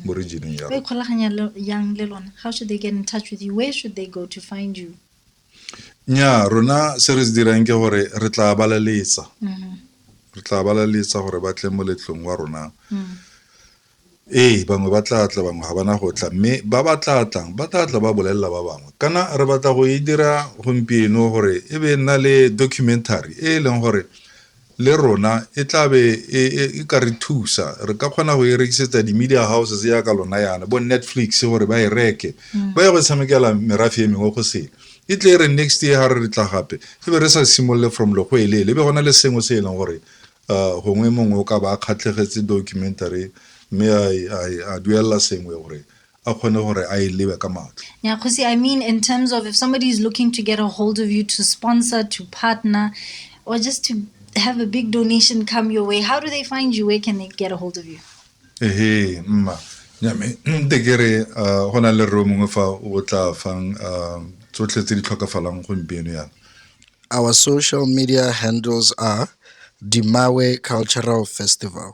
mo regioneng ya ikgolaganya yang le lona how should they get in touch with you where should they go to find you nnyaa rona se re se dirang ke gore re tla balaletsa mm-hmm. re tla balaletsa gore ba tle moletlong wa rona mm. ee bangwe ba tla tla bangwe ga bana go tla mme ba ba tla tlang ba tla tla ba bolelela ba bangwe kana re batla go e dira gompieno gore e be nna le documentary e e leng gore le rona e tla be e, e, e ka re thusa re ka kgona go e rekisetsa di-media houses yaka lona yana bo netflix gore ba e reke mm. ba ye go tshamekela merafe e mengwe go sele e tle e re next year ga re re tla gape e be re sa simolole from logo e leele e be gona le sengwe se e leng gore uh, gongwe mongwe o ka ba a kgatlhegetse documentary mme a duelela sengwe gore a kgone gore a e lebe ka matlho yeah kgosi i mean in terms of if somebody is looking to get a hold of you to sponsor to partner or just to have a big donation come your way how do they find you where can they get a hold of you ehe mma nyame nte ke re uh, go na le reo mongwe fa o tla fang uh, tsotlhe tse di tlhokafalang gompieno yana our social media handles are dimawe cultural festival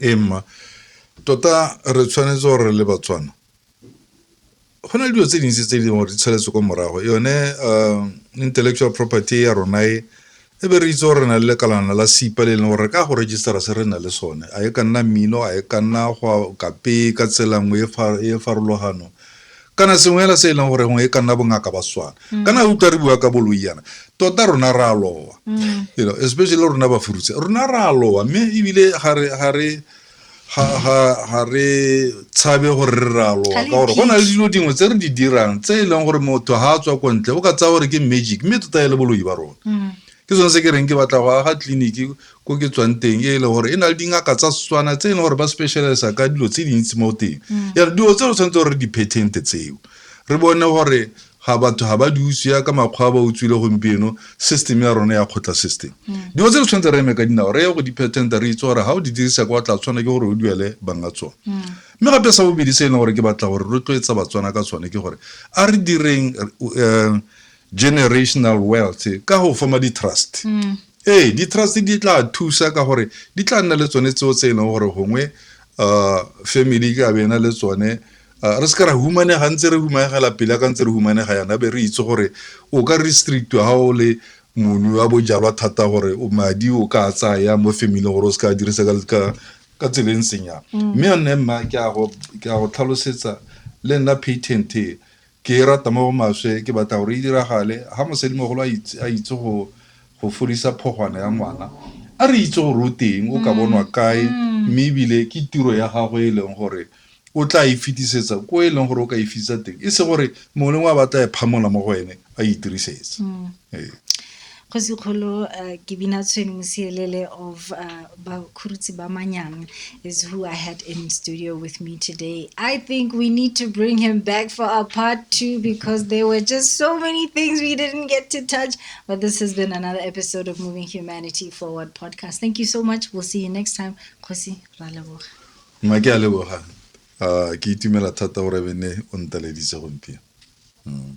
Ee, mma tota re tshwanetse gore re le batswana go na le dilo tse dintsi tse e leng gore di tsheletse ko morago yone um intellectual property ya rona e e be re itse gore re na le lekalana la sipa le e leng gore re ka go registera se re na le sone a e ka nna mmino a e ka nna go kape ka tsela nngwe e e farologano kana sengwe hela se e leng gore gongwe e ka nna bongaka ba swana mm. kana utlwa re bua ka boloi yana tota rona re a lowa mm. you know especially rona ba furutse rona re a lowa mme ebile ga re ga re ga re tshabe gore re re a lowa ka gore go na le dilo dingwe tse re di dirang tse e leng gore motho ga a tswa ko ntle o ka tsaya gore ke magic mme tota e le boloi ba rona mm. ke sone se ke reng ke batla go aga tleliniki ko ke tswang teng e le gore e na le dingaka tsa setswana tse e leng gore ba specialisa ka dilo tse dintsi mo teng mm. yare dilo tse re tshwanetse gore re di-patent tseo re bone gore ga batho ga ba di utswa ka makgwa ba utswile gompieno system ya rona ya kgotla system mm. dilo tse re tshwanetse re eme ka dinao re ye go di-patent re itse gore ga o di dirisa kwa tla tshwana ke gore o duele banga tsone mm. mme gape sa bobedi se e leng gore ke batla gore rotloetsa batswana ka tsone ke gore a re direng um generational wealth ka go forma di-trust mm. ee di-trust di tla thusa ka gore di tla nna le tsone tseo tse e leng gore gongwe um family ka bena le tsone um re se ka ra humanega ntse re humanegela pele ka ntse re humanega yana be re itse gore o ka restrictwa ga o le moni wa bojalwa thata gore madi o ka tsaya mo family gore o se ka dirisa ka tseleng senyana mm. mme yone mma ke a go tlhalosetsa le nna patent e Ke e rata mo go maswe, ke batla gore e diragale. Ga mosadimogolo a itse, a itse go, go fodisa phogwana ya ngwana, a re itse gore o teng, o ka bonwa kae, mme ebile ke tiro ya gagwe e leng gore o tla e fetisetsa ko e leng gore o ka e fitisa teng, e se gore mongwe le mongwe a batla e phamola mo go ene a e dirisetsa. Ee. Kgosi kgolo ke bina Tshwene Mosielele of uh, Bakhurutsi Bamanyang is who I had in studio with me today. I think we need to bring him back for our part two because there were just so many things we didn't get to touch. But this has been another episode of Moving Humanity Forward podcast. Thank you so much. We'll see you next time. Kgosi Raleboga. Mma ke a leboga. Uh, ke itumela thata gore bene o nteleditse gompieno. Mm.